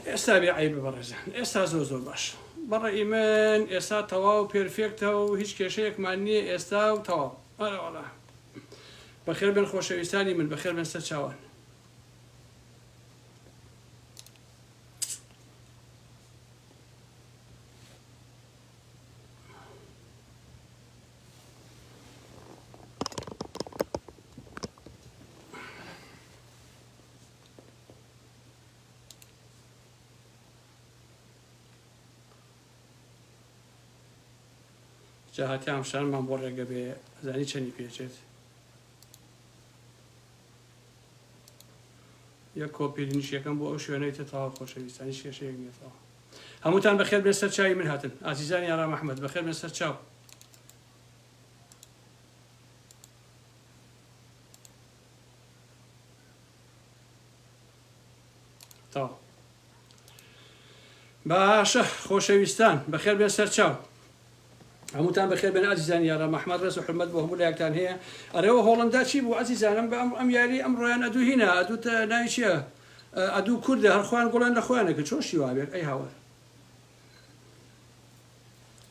ئێستا بێ عەیبە بەڕێزان ئێستا زۆر زۆر باش بەڕێی من ئێستا تەواو پێرفێکتە و هیچ کێشەیەکمان نییە ئێستا و تەواو ئەرەوەڵا بەخێر بن خۆشەویستانی من بەخێر بن سەر چاوان جا هاتی ئامشارمان بۆ ڕێگە بێ زانی چەنی پێچێت یە کۆپیلنیش یەکەم بۆ ئەو شوێنەی تە تاوا خۆشەویستانی شێشەیەک نێتەوە هەمووتان بەخێر بێ سەر چاوی من هاتن ئازیزانی ئارام ئەحمد بەخێر بێ سەر چاو تەواو باشە خۆشەویستان بەخێر بێن سەرچاو هەمووتان بەخێر بێن ئازیزان یارە مەحمەد ڕێز و حرمەت بۆ هەموو لایەکتان هەیە ئەرەوە هۆڵندا چی بوو ئازیزانم بە ئەم ئەم یاری ئەم ڕۆیان ئەدوو هینا ئەدوو ناوی چییە ئەدوو کوردە هەرخوان گوڵان لە خۆیانەکە چۆن شیوا بێت ئەی هاوار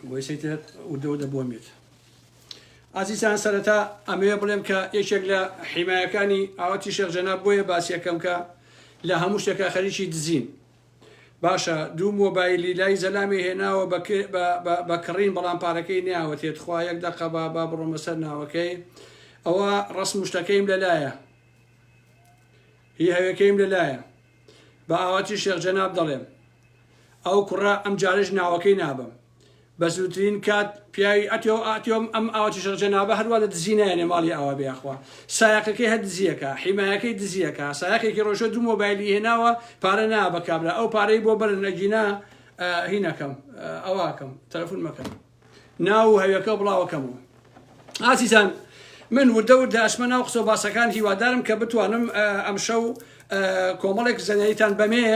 بۆیسەی تر وردە وردە بۆ مێت ئازیزان سەرەتا ئەمەوێ بڵێم کە یەکێک لە حیمایەکانی ئاوەتی شێخ جەناب بۆیە باسیەکەم کە لە هەموو شتێکە خەریکی دزین باشە دوو مۆبایلی لای زەلامی هێناوە بە کڕین بەڵام پارەکەی نیاوەتێت خوا یەک دەقە با با بڕۆمە سەر ناوەکەی ئەوە ڕسم شتەکەیم لەلایە هی هەوێکەیم لەلایە بە ئاواتی شێخ جەناب دەڵێم ئەو کوڕە ئەم جارەش ناوەکەی نابەم بە زووترین کات پیاوی ئەتێو ئاتێۆم ئەم ئاوە چشڕ جەنابە هەروا لە دزی نایەنێ ماڵی ئاوا بێ یاخوا سایەقەکەی هەر دزیەکا حیمایەکەی دزیەکا سایەقێکی ڕۆژۆ دوو مۆبایلی هێناوە پارە نا بە کابرا ئەو پارەی بۆ بەرن ئەگینا هینەکەم ئەواکەم تەلەفون مەکەن ناو و هەوێکەو بڵاوەکەمەوە. ئازیزان من وردە وردە ئەچمە ناو قسەو باسەکان هیوادارم کە بتوانم ئەمشەو کۆمەڵێک زەنەیتان بەمێ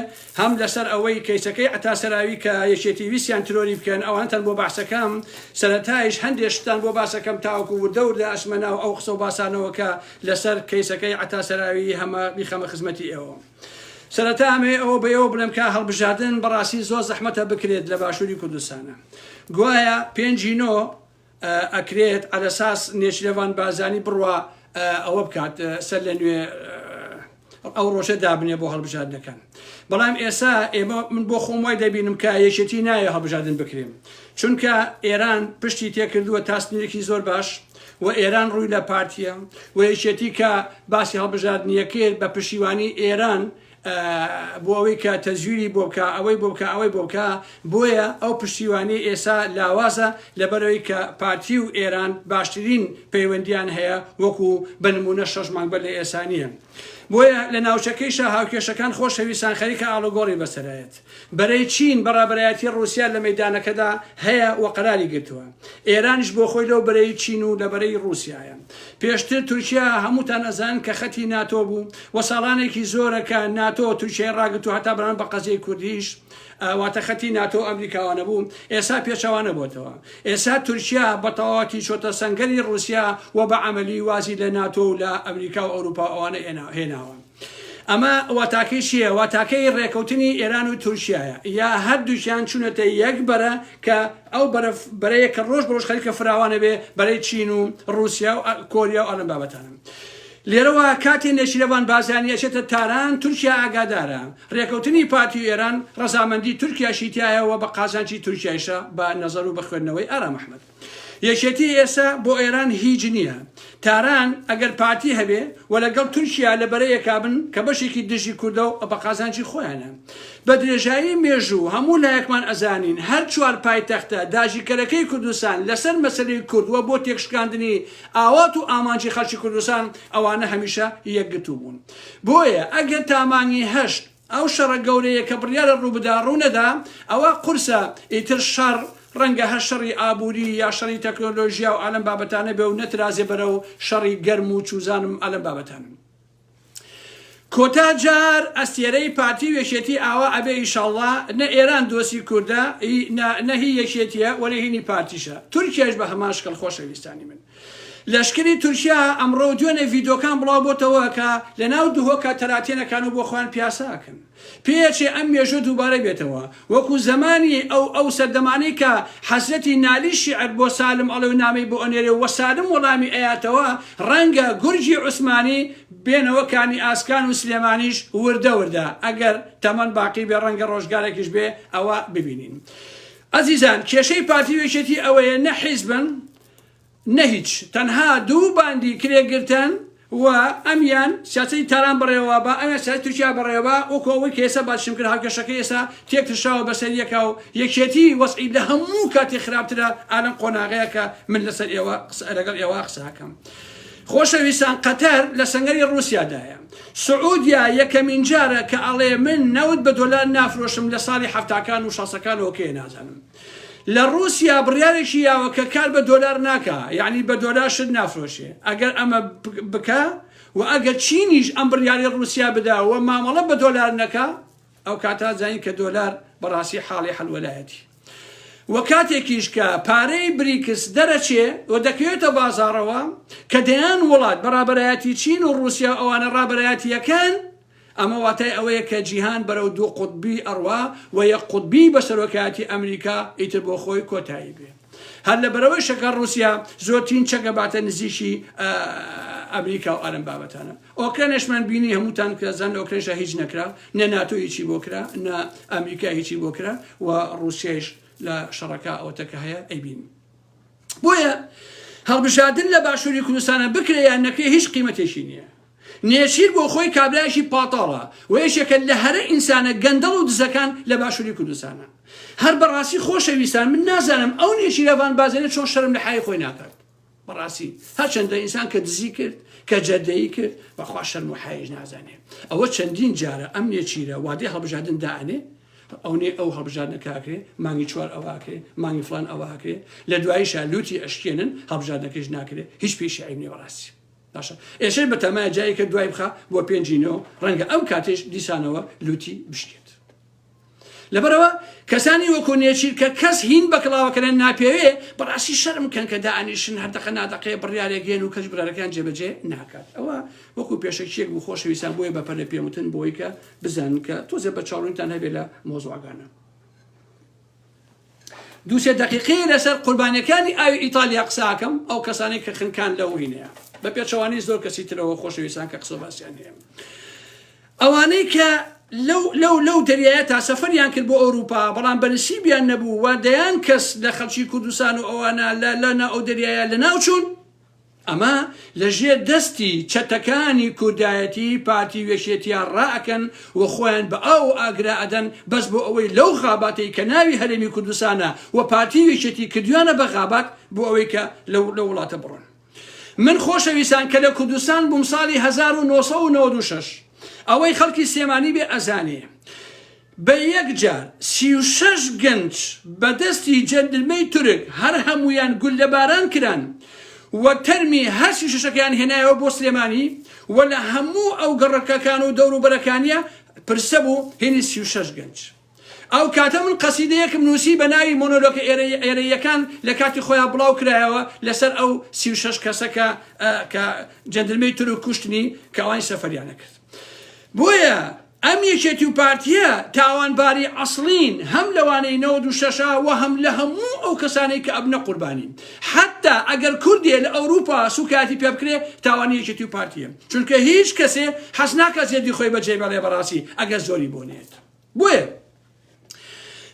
هەم لەسەر ئەوەی کەیسەکەی عتا سەراوی کە یەکێتی ویسیان ترۆری بکەن ئەوانتان بۆ باسەکەم سەرەتایش هەندێشتان بۆ باسەکەم تاوەکو وردە وردە ئەچمە ناو ئەو قسەو باسانەوە کە لەسەر کەیسەکەی عتا سەراوی هەمە بیخەمە خزمەتی ئێوە. سەرەتا ئەمەوێ ئەوە بەێوە بڵێم کا هەڵبژاردن بەڕاستی زۆر زەحمەتە بکرێت لە باشووری کوردستانە گوایە پێنجی نۆ ئەکرێت ئەلەساس نێچرەوان بازانی بڕوا ئەوە بکات سەر لە نوێ ئەو ڕۆژە دابنێ بۆ هەڵبژاردنەکان بەڵام ئێسا ئێمە من بۆ خۆم وای دەبینم کە یەکێتی نایە هەڵبژاردن بکرێن چونکە ئێران پشتی تێکردووە تاسنیرێکی زۆر باش و ئێران ڕووی لە پارتیە و یەکێتی کە باسی هەڵبژاردنیەکەیت بە پشیوانی ئێران بۆ ئەوەی کە تەزویری بۆ بکە ئەوەی بۆ بکە ئەوەی بۆ بکە بۆیە ئەو پشتیوانی ئێسا لاوازە لەبەرەوەی کە پارتی و ئێران باشترین پەیوەندیان هەیە وەکو بنمونە شەش مانگ بەر لە ئێسانیە بۆیە لە ناوچەکەیشە هاوکێشەکان خۆشەویستان خەریکە ئاڵوگۆڕی بەسەرایەت بەرەی چین بە ڕابەرایەتی ڕووسیا لە مەیدانەکەدا هەیە و قەراری گرتووە. ئێرانیش بۆ خۆی لەو بەرەی چین و لە بەرەی ڕووسیایە. پێشتر تورکیا هەمووتان ئەزانن کە خەتی ناتۆ بوو و ساڵانێکی زۆرە کە ناتۆ تورکیای ڕاگرت و هەتا بەرامبەر بە قەزیەی کوردیش واتە خەتی ناتۆ و ئەمریکاوانە بوو، ئێسا پێچەوانە بۆتەوە. ئێسا تورکیا بە تەواوەتی چۆتە سەنگەری ڕووسیا و بە عەمەلی وازی لە ناتۆ و لە ئەمریکا و ئەوروپا و ئەوانە هێناوە. ئەمە واتاکەی چییە؟ واتاکەی رێکەوتنی ئێران و تورکیایە، یا هەردووکیان چوونەتە یەک بەرە کە ئەو بەرە بەرەیە کە رۆژ بە رۆژ خەریکە فراوان ئەبێ، بەرەی چین و رووسیا و کۆریا و ئەلەم بابەتانە. لێرەوە کاتێ نێچیرەڤان بارزانی ئەچێتە تاران، تورکیا ئاگادارە. رێکەوتنی پارتی و ئێران رەزامەندی تورکیاشی تیایە و بە قازانجی تورکیایشە، بە نەزەر و بە خوێندنەوەی ئارام ئەحمەد. یەکێتی ئێسە بۆ ئێران هیچ نیە تاران ئەگەر پارتی هەبێ وە لە گەڵ تورکیا لە بەرە یەکا بن کە بەشێکی دژی کوردە و بە قازانجی خۆیانە بە درێژایی مێژوو هەموو لایەکمان ئەزانین هەر چوار پایتەختە داگیرکەرەکەی کوردستان لە سەر مەسەلەی کورد وە بۆ تێکشکاندنی ئاوات و ئامانجی خەڵکی کوردستان ئەوانە هەمیشە یەکگرتوو بوون بۆیە ئەگەر تا مانگی هەشت ئەو شەڕە گەورەیە کە بڕیارە ڕووبدا ڕوونەدا، ئەوە قورسە، ئیتر شەڕ ڕەنگە هەر شەڕی ئابووری یا شەڕی تەکنۆلۆژیا و ئالەم بابەتانە بێ و نەترازێ بەرەو شەڕی گەرم و چوزانم ئالەم بابەتان. کۆتا جار ئەستێرەی پارتی و یەکێتی ئاوا ئەبێ ئیشاڵڵا، نە ئێران دۆستی کوردە ی نە هی یەکێتیە وە نە هینی پارتیشە، تورکیاش بە هەمان شکڵ خۆشەویستانی من. لەشکری تورکیا ئەمڕۆ دوێنێ ڤیدۆکان بڵاو بۆتەوە کە لە ناو دهۆکە تەراتێن ئەکان و بۆ خۆیان پیاسە ئەکەن. پێ ئەچێ ئەم مێژوە دووبارە بێتەوە وەکو زەمانی ئەو ئەو سەردەمانەی کە حەزرەتی نالی شیعر بۆ سالم ئەڵێ و نامەی بۆ ئەنێرێ و سالم وەڵامی ئەیاتەوە ڕەنگە گورگی عوسمانی بێنەوە کانی ئاسکان و سلێمانیش وردە وردە ئەگەر تەمەن باقی بێ ڕەنگە ڕۆژگارێکیش بێ ئەوە ببینین. ئەزیزان کێشەی پارتی و یەکێتی ئەوەیە نە حیزبن، نە هیچ تەنها دوو باندی کرێ گرتن و ئەمیان سیاسەتی تاران بەڕێوە با ئەمیان سیاسەتی تورکیا بەڕێوە وەکو ئەوەی کە ئێستا باسیشم کرد هاوکێشەکە ئێستا تێکترشاوە بەسەر یەکا و یەکێتی وەزعی لە هەموو کاتی خراپترە ئالەم قۆناغەیە کە من لەسەر ئێوە قسە لەگەڵ ئێوە قسە هەکەم خۆشەویستان قەتەر لە سەنگەری رووسیادایە سعودیا یەکەمین جارە کە ئەڵێ من نەوت بە دۆلار نافرۆشم لە ساڵی حەفتاکان و شەسەکانەوە کێ نازانم لە ڕوسیا بڕیارێکی یاوە کە کار بە دۆلار ناکا یانی بە دۆلار شت نافرۆشێ ئەگەر ئەمە بکا و ئەگەر چینیش ئەم بڕیاری ڕوسیا بدا و مامەڵە بە دۆلار نەکا ئەو کاتا زانین کە دۆلار بەڕاستی حاڵی حەلوەلایەتی و کاتێکیش کە پارەی بریکس دەرەچێ و دەکەوێتە بازارەوە کە دەیان وڵات بەڕابەرایەتی چین و ڕوسیا ئەوانە ڕابەرایەتیەکەن ئەمە واتای ئەوەیە کە جیهان بەرەو دوو قوتبی ئەڕوا و یەک قوتبیی بە سەرۆکایەتی ئەمریکا ئیتر بۆ خۆی کۆتایی بێ. هەر لە بەرەوەیشە کە ڕووسیا زۆرترین چەکە باتە نزیکی ئەمریکا و ئەرم بابەتانە. ئۆکرەنەشمان بینی هەمووتان کە زان لە ئۆکرەنشا هیچ نەکرا، نە ناتۆ هیچی بۆ کرا، نە ئەمریکا هیچی بۆ کرا و ڕووسیایش لە شەڕەکە ئەوەتە کە هەیە ئەیبینی. بۆیە هەڵبژاردن لە باشووری کوردستانە بکرێ یان نەکرێ هیچ قیمەتێکی نییە. نێچیر بۆ خۆی کابرایەکی پاتاڵە و یەکێکە لە هەرە ئینسانە گەندەڵ و دزەکان لە باشوری کوردستانا. هەر بەڕاستی خۆشەویستان من نازانم ئەو نێچیرە ڤان بازێنە چۆن شەرم لە حەیای خۆی ناکات. بەڕاستی هەرچەندە ئینسان کە دزی کرد کە جەردەیی کرد بەخوا شەرم و حەیایش نازانێ. ئەوە چەندین جارە ئەم نێچیرە وادەی هەڵبژاردن دائەنێ ئەونێ ئەو هەڵبژاردنەکە ئەکرێ مانگی چوار ئەوە ئەکرێ مانگی فڵان ئەوە ئەکرێ لە دواییشا لوتی ئەشکێنن هەڵبژاردنەکەیش ناکرێ هیچ پێیشی عەیب نیە بەڕاستی. باشە ئێشەی بەتەمایە جایەکە دوای بخە بۆ پێنجی نۆ ڕەنگە ئەو کاتێش دیسانەوە لوتی بشکێت لەبەرەوە کەسانی وەکو نێچیر کە کەس هین بە کڵاوەکەیان ناپێوێ بەڕاستی شەرم کەن کە دانیشن هەردەقە نادەقەیە بڕیارێک گێن و کەس برارەکان جێبەجێ ناکات ئەوە وەکو پێشەکیەک بوو خۆشەویستان بۆیە بە پەلە پێوتن بۆی کە بزانن کە تۆزێ بە چاڵونتان هەبێ لە مۆزواگانە دوو سێ دەقیقەیە لەسەر قوربانیەکانی ئاوی ئیتالیا قساکەم ئەو کەسانی کە خنکان لە وینەیە بە پێچەوانەی زۆر کەسی ترەوە خۆشەویستان کە قسە باسییان هەیە ئەوانەی کە لەو لەو لەو دەریایە تا سەفەریان کرد بۆ ئەوروپا بەڵام بەنسیبیان نەبوو و دەیان کەس لە خەڵکی کوردستان و ئەوانە لە لەنا ئەو دەریایە لە ناوچوون ئەمە لە ژێر دەستی چەتەکانی کوردایەتی پارتی و یەکێتیا ڕائەکەن و خۆیان بە ئاو و ئاگرا ئەدەن بەس بۆ ئەوەی لەو غاباتەی کە ناوی هەرێمی کوردستانە و پارتی و یەکێتی کردویانە بە غابات بۆ ئەوەی کە لەو لەو وڵاتە بڕۆن. من خۆشەویستان کە لە کوردستان بووم ساڵی هەزار و نۆ سەد و نەوەد و شەش ئەوەی خەڵکی سلێمانی بێ ئەزانێ، بە یەکجار سی و شەش گەنج بە دەستی جەندرمەی تورک هەر هەموویان گوللە باران کران و تەرمی هەر سی و شەشەکەیان هێنایەوە بۆ سلێمانی و لە هەموو ئەو گەڕەکەکان و دەور و بەرەکانیا پرسە بوو هێنی سی و شەش گەنج ئەو کاتە من قەسیدەیەکم نووسی بە ناوی مۆنۆلۆکە ئێرەی ئێرەییەکان لە کاتی خۆیان بڵاو کرایەوە لەسەر ئەو سی و شەش کەسە کە کە جەندرمەی تورک کوشتنی کە ئەوانی سەفەریان نەکرد. بۆیە ئەم یەکێتی و پارتیە تاوانباری عەسڵین هەم لەوانەی نەوەد و شەش ە وە هەم لە هەموو ئەو کەسانەی کە ئەبنە قوربانی حەتتا ئەگەر کوردێ لە ئەوروپا سوکایەتی پێ بکرێ تاوانی یەکێتی و پارتیە چونکە هیچ کەسێ حەز ناکا زێدی خۆی بەجێ بەڵێ بەڕاسی ئەگەر زۆری بۆ نێت بۆیە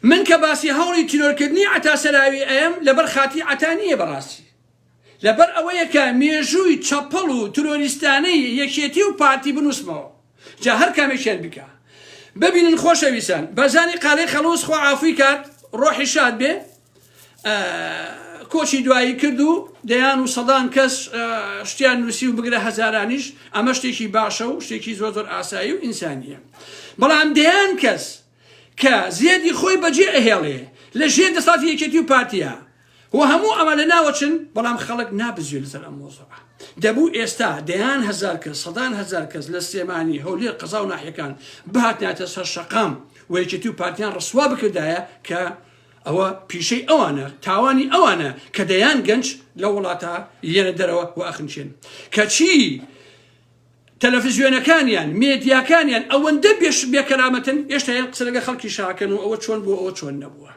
من کە باسی هەوڵی تیرۆرکردنی عەتا سەراوی ئەیەم لەبەر خاتی عەتا نیە بەڕاستی لەبەر ئەوەیە کە مێژووی چەپەڵ و ترۆریستانەی یەکێتی و پارتی بنووسمەوە جا هەر کامێکیان بیکا ببینن خۆشەویستان بەزانی قالەی خەڵووز خوا عافووی کات ڕۆحی شاد بێ کۆچی دوایی کرد و دەیان و سەدان کەس شتیان نووسی و بگرە هەزارانیش ئەمە شتێکی باشە و شتێکی زۆر زۆر ئاسایی و ئینسانیە بەڵام دەیان کەس کە زێدی خۆی بەجێ ئەهێڵێ لە ژێر دەسەڵاتی یەکێتی و پارتیا و هەموو ئەمە لە ناوەچن بەڵام خەڵک نابزوێ لەسەر ئەم مۆزوعە دەبوو ئێستا دەیان هەزار کەس سەدان هەزار کەس لە سلێمانی هەولێر قەزا و ناحیەکان بهاتناتە سەر شەقام و یەکێتی و پارتیان ڕسوا بکردایە کە ئەوە پیشەی ئەوانە تاوانی ئەوانە کە دەیان گەنج لە وڵاتە یەنە دەرەوە و ئەخنچێن کەچی تەلەفزیۆنەکانیان، مێدیاکانیان ئەوەندە بێ شت بێ کەرامەتن هێشتا یان قسە لەگەر خەڵکی شاکەن و ئەوە چۆن بووە ئەوە چۆن نەبووە.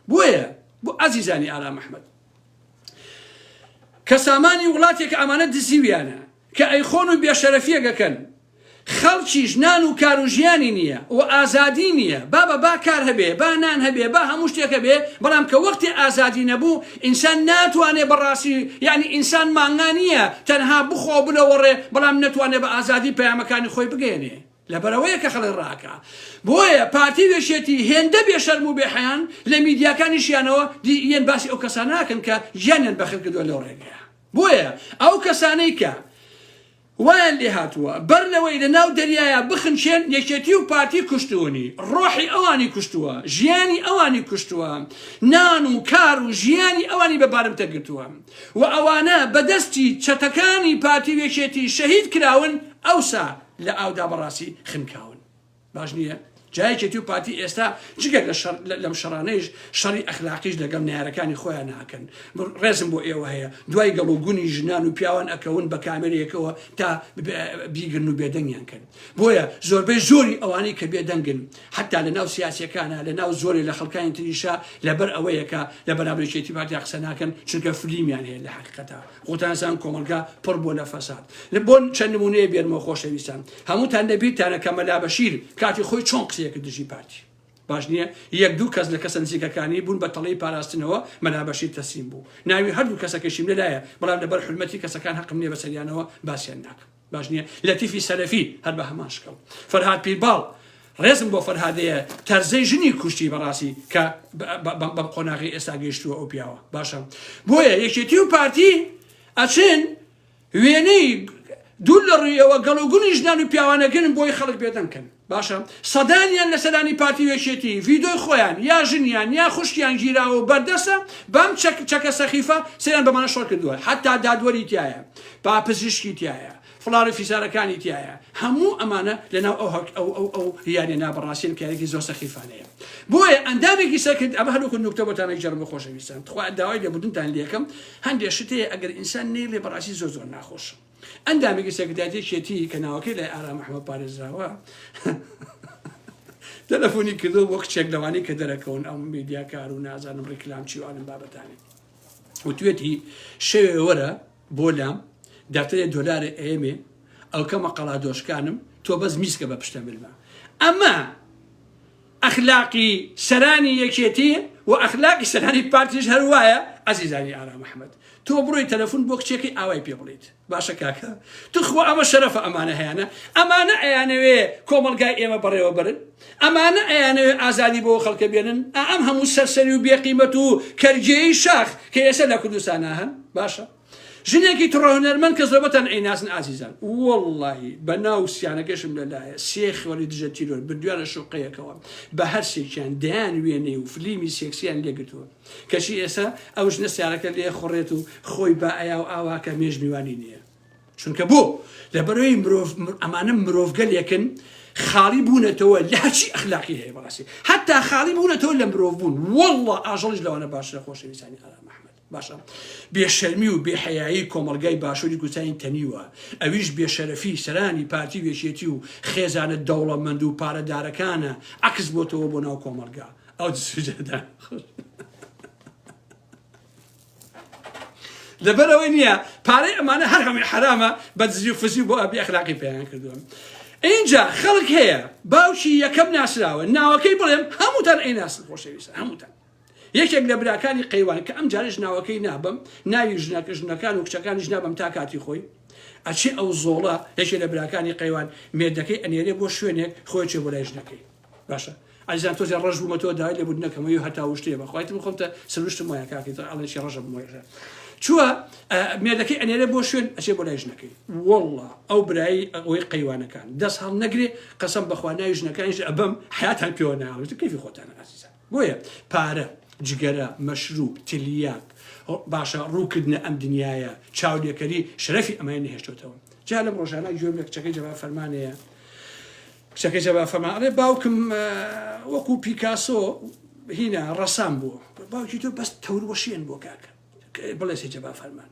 بۆیە بۆ ئازیزانی ئارام ئەحمەد کە سامانی وڵاتێکە ئەمانە دزیویانە کە ئەیخۆن و بێشەرەفیەگەکەن خەڵکیش نان و کار و ژیانی نییە و ئازادی نییە بابە با کار هەبێ با نان هەبێ با هەموو شتێک هەبێ بەڵام کە وەختی ئازادی نەبوو ئینسان ناتوانێ بەڕاستی یانی ئینسان مانگا نییە تەنها بخوا و بلەوەڕێ بەڵام نەتوانێ بە ئازادی پەیامەکانی خۆی بگەیەنێ لەبەرئەوەیە کە خەڵک ڕاکە بۆیە پارتی و یەکێتی هێندە بێ شەرم و بێ حەیان لە میدیاکانیشیانەوە دی یەن باسی ئەو کەسانە ئەکەن کە گیانیان بەخت کردوە لەو ڕێگەیە بۆیە ئەو کەسانەی کە وایان لێهاتووە بەر لەوەی لە ناو دەریایا بخنچێن یەکێتی و پارتی کوشتوونی، ڕۆحی ئەوانی کوشتووە، ژیانی ئەوانی کوشتووە، نان و کار و ژیانی ئەوانی بە بارمتە گرتووە و ئەوانە بە دەستی چەتەکانی پارتی و یەکێتی شەهید کراون ئەوسا لە ئاودا بەڕاستی خنکاون. باش نییە جا یەکێتی و پارتی ئێستا جگە لە شەڕ لە- لەم شەڕانەیش شەڕی ئەخلاقیش لەگەڵ نەیارەکانی خۆیان ناکەن م- ڕێزم بۆ ئێوە هەیە دوای گەڵ و گونی ژنان و پیاوان ئەکەون بە کامێرەیەکەوە تا ب- بیگرن و بێدەنگیان کەن بۆیە زۆربەی زۆری ئەوانەی کە بێدەنگن حەتا لە ناو سیاسیەکانا لە ناو زۆرێ لە خەڵکانی تریشا لەبەر ئەوەیە کە لە بەرامبەر یەکێتی پارتیا قسە ناکەن چونکە فلیمیان هەیە لە حەقیقەتا خوتان زان کۆمەڵگا پڕ بوە لە فەساد. بۆ چەند نمونەیە بێنمەوە خۆشەویستان؟ هەموتان لە بیرتانە کە مەلا بەشیر کاتی خۆی چۆن قسەیە کرد دژی پارتی؟ باش نیە؟ یەک دوو کەس لە کەسە نزیکەکانی بون بە تەڵەی پاراستنەوە مەلا بەشیر تەسلیم بو. ناوی هەردوو کەسەکەشیم لەلایە بەڵام لەبەر حورمەتی کەسەکان هەقم نیە بەسەریانەوە باسیان ناکەم. باش نیە لەتیفی سەلەفی هەر بە هەمان شکڵ فەرهاد پیرباڵ ڕێزم بۆ فەرهادەیە تەرزەی ژنی کوشتی بەڕاستی کە بەم قۆناغی ئێستا گەیشتووە ئەو پیاوە باشە بۆیە یەکێتی و پارتی ئەچێن وێنەی دوو لە ڕویەوە گەڵوگونی ژنان و پیاوانەگەن بۆی خەڵک بێدەنکەن باشە سەدانیان لە سەرانی پارتی و یەکێتی ڤیدۆی خۆیان یا ژنیان یا خوشکیان گیراوە و بەردەستە بەم چەک چەکە سەخیفە سەریان بە مانە شۆڕ کردووە حەتا دادوەری تایە با پزیشکی تایە فڵاڕی فیسارەکانی تایە هەموو ئەمانە لەناو ئەو هەک ئەو ئەو ئەو یانە نابڕاستین کارێکی زۆر سەخیفانەیە بۆیە ئەندامێکی سەکرد ئەمە هەروکو نوکتە بۆتانە جەرم بە خۆشەویستان تخوا داوای لێبوردنتان لێکم هەندێک شتەیە ئەگەر ئینسان نەیلێ بەڕاستی زۆر زۆر ناخۆشە ئەندامێکی سەکرتاریەتی یەکێتی کە ناوەکەی لای ئارام ئەحمەد پارێزراوە تەلەفۆنی کردو بۆ کچێک لەوانی کە دەرەکەون ئەم میدیاکار و نازانم ڕیکلام چی وانم بابەتانی وتوێتی شەوێ وەرە بۆ لام داتێ دۆلارە ئێمێ ئەو کەمە قەڵا دۆشکانم تۆ بەس میسکە بە پشتە ملمە ئەمە ئەخلاقی سەرانی یەکێتی و ئەخلاقی سەرانی پارتیش هەر وایە ئەزیزانی ئارام ئەحمەد تۆ بڕۆی تەلەفون بۆ کچێکی ئاوای پێ بڵیت باشە کاکە توخوا ئەمە شەرەفە ئەمانە هەیانە ئەمانە ئەیانەوێ کۆمەڵگای ئێمە بەڕێوە برن ئەمانە ئەیانەوێ ئازادی بۆ خەڵکە بێنن ئا ئەم هەموو سەرسەری و بێقیمەت و کەرجێی شاخ کە ئێسە لە کوردستانا هەن باشە ژنێکی تڕە هونەرمەند کە زۆربەتان ئەیناسن ئازیزان وەڵڵاهی بە ناو سیانەکەشم لەلایە سێ خێڵی دژە تیرۆر بردویانە شوقەیەکەوە بە هەر سێکیان دەیان وێنەی و فلیمی سێکسیان لێگرتووە کەچی ئێستا ئەو ژنە سیارەکە لێ خوڕێت و خۆی بە ئەیا و ئاواکە مێژ میوانی نییە چونکە بۆ لەبەرەوەی مرۆڤ ئەمانە مرۆڤگەلێکن خاڵی بوونەتەوە لە هەرچی ئەخلاقی هەیە بەڕاستی حتا خاڵی بوونەتەوە لە مرۆڤ بوون وەڵڵە ئاژەڵیش لەوانە باشە خۆشەویستانی ئارام محمد باشە بێ شەرمی و بێ حەیایی کۆمەڵگای باشوری کوردستانی تەنیوە ئەویش بێ شەرەفی سەرانی پارتی و یەکێتی و خێزانە دەوڵەمەند و پارە دارەکانە عەکس بۆتەوە بۆ ناو کۆمەڵگا ئەو سوجەدان لەبەرەوەی نییە پارەی ئەمانە هەر هەمووی حرامە بە دزی و فزی بۆ ئەبی ئەخلاقی پێیان کردووە اینجا خەڵک هەیە باوکی یەکەم ناسراوە ناوەکەی بڵێم هەمووتان ئەی ناسن خۆشەویستە هەمووتان یەکێک لە براکانی قەیوان کە ئەمجارەش ناوەکەی نابەم، ناوی ژنە ژنەکان و کچەکانیش نابەم تا کاتی خۆی، ئەچێ ئەو زۆڵە، یەکێ لە براکانی قەیوان، مێردەکەی ئەنێرێ بۆ شوێنێک، خۆی ئەچێ بۆ لای ژنەکەی. باشە ئەزیزان تۆزێ ڕەش بوومەتەوە داوای لێ بوردنە کەمەوە یو هەتا وشتێ بە خوایت من خۆم تە سروشتم وایە کاکەی تڕ ئەڵێ چی ڕەشە بمۆی ڕێ چووە مێردەکەی ئەنێرێ بۆ شوێن ئەچێ بۆ لای ژنەکەی والله ئەو برایی ئەوەی قەیوانەکان دەست هەڵ نەگرێ قەسەم بەخوا ناوی ژنەکانیش ئەبەم حیاتان پێوە ناوێت کەفی خۆتانە ئازیزان بۆیە پارە، جگەرە، مەشروب، تلیاک، باشە ڕووکردنە ئەم دنیایە، چاولێکەری، شەرەفی ئەمانەی نەهێشتۆتەوە. جا لەم ڕۆژانە گوێم لە کچەکەی جەبار فەرمان هەیە، کچەکەی جەبار فەرمان ئەڵێ باوکم وەکوو پیکاسۆ هینا ڕەسام بووە. باوکی تۆ بەس تەوروەشێن بووە کاکە. بڵێ سێ جەبار فەرمان.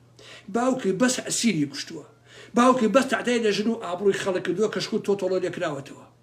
باوکی بەس ئەسیری کوشتووە. باوکی بەس تەعدای لە ژن و ئابڕووی خەڵک کردووە کە شکوو تۆتۆڵۆ لێ کراوەتەوە.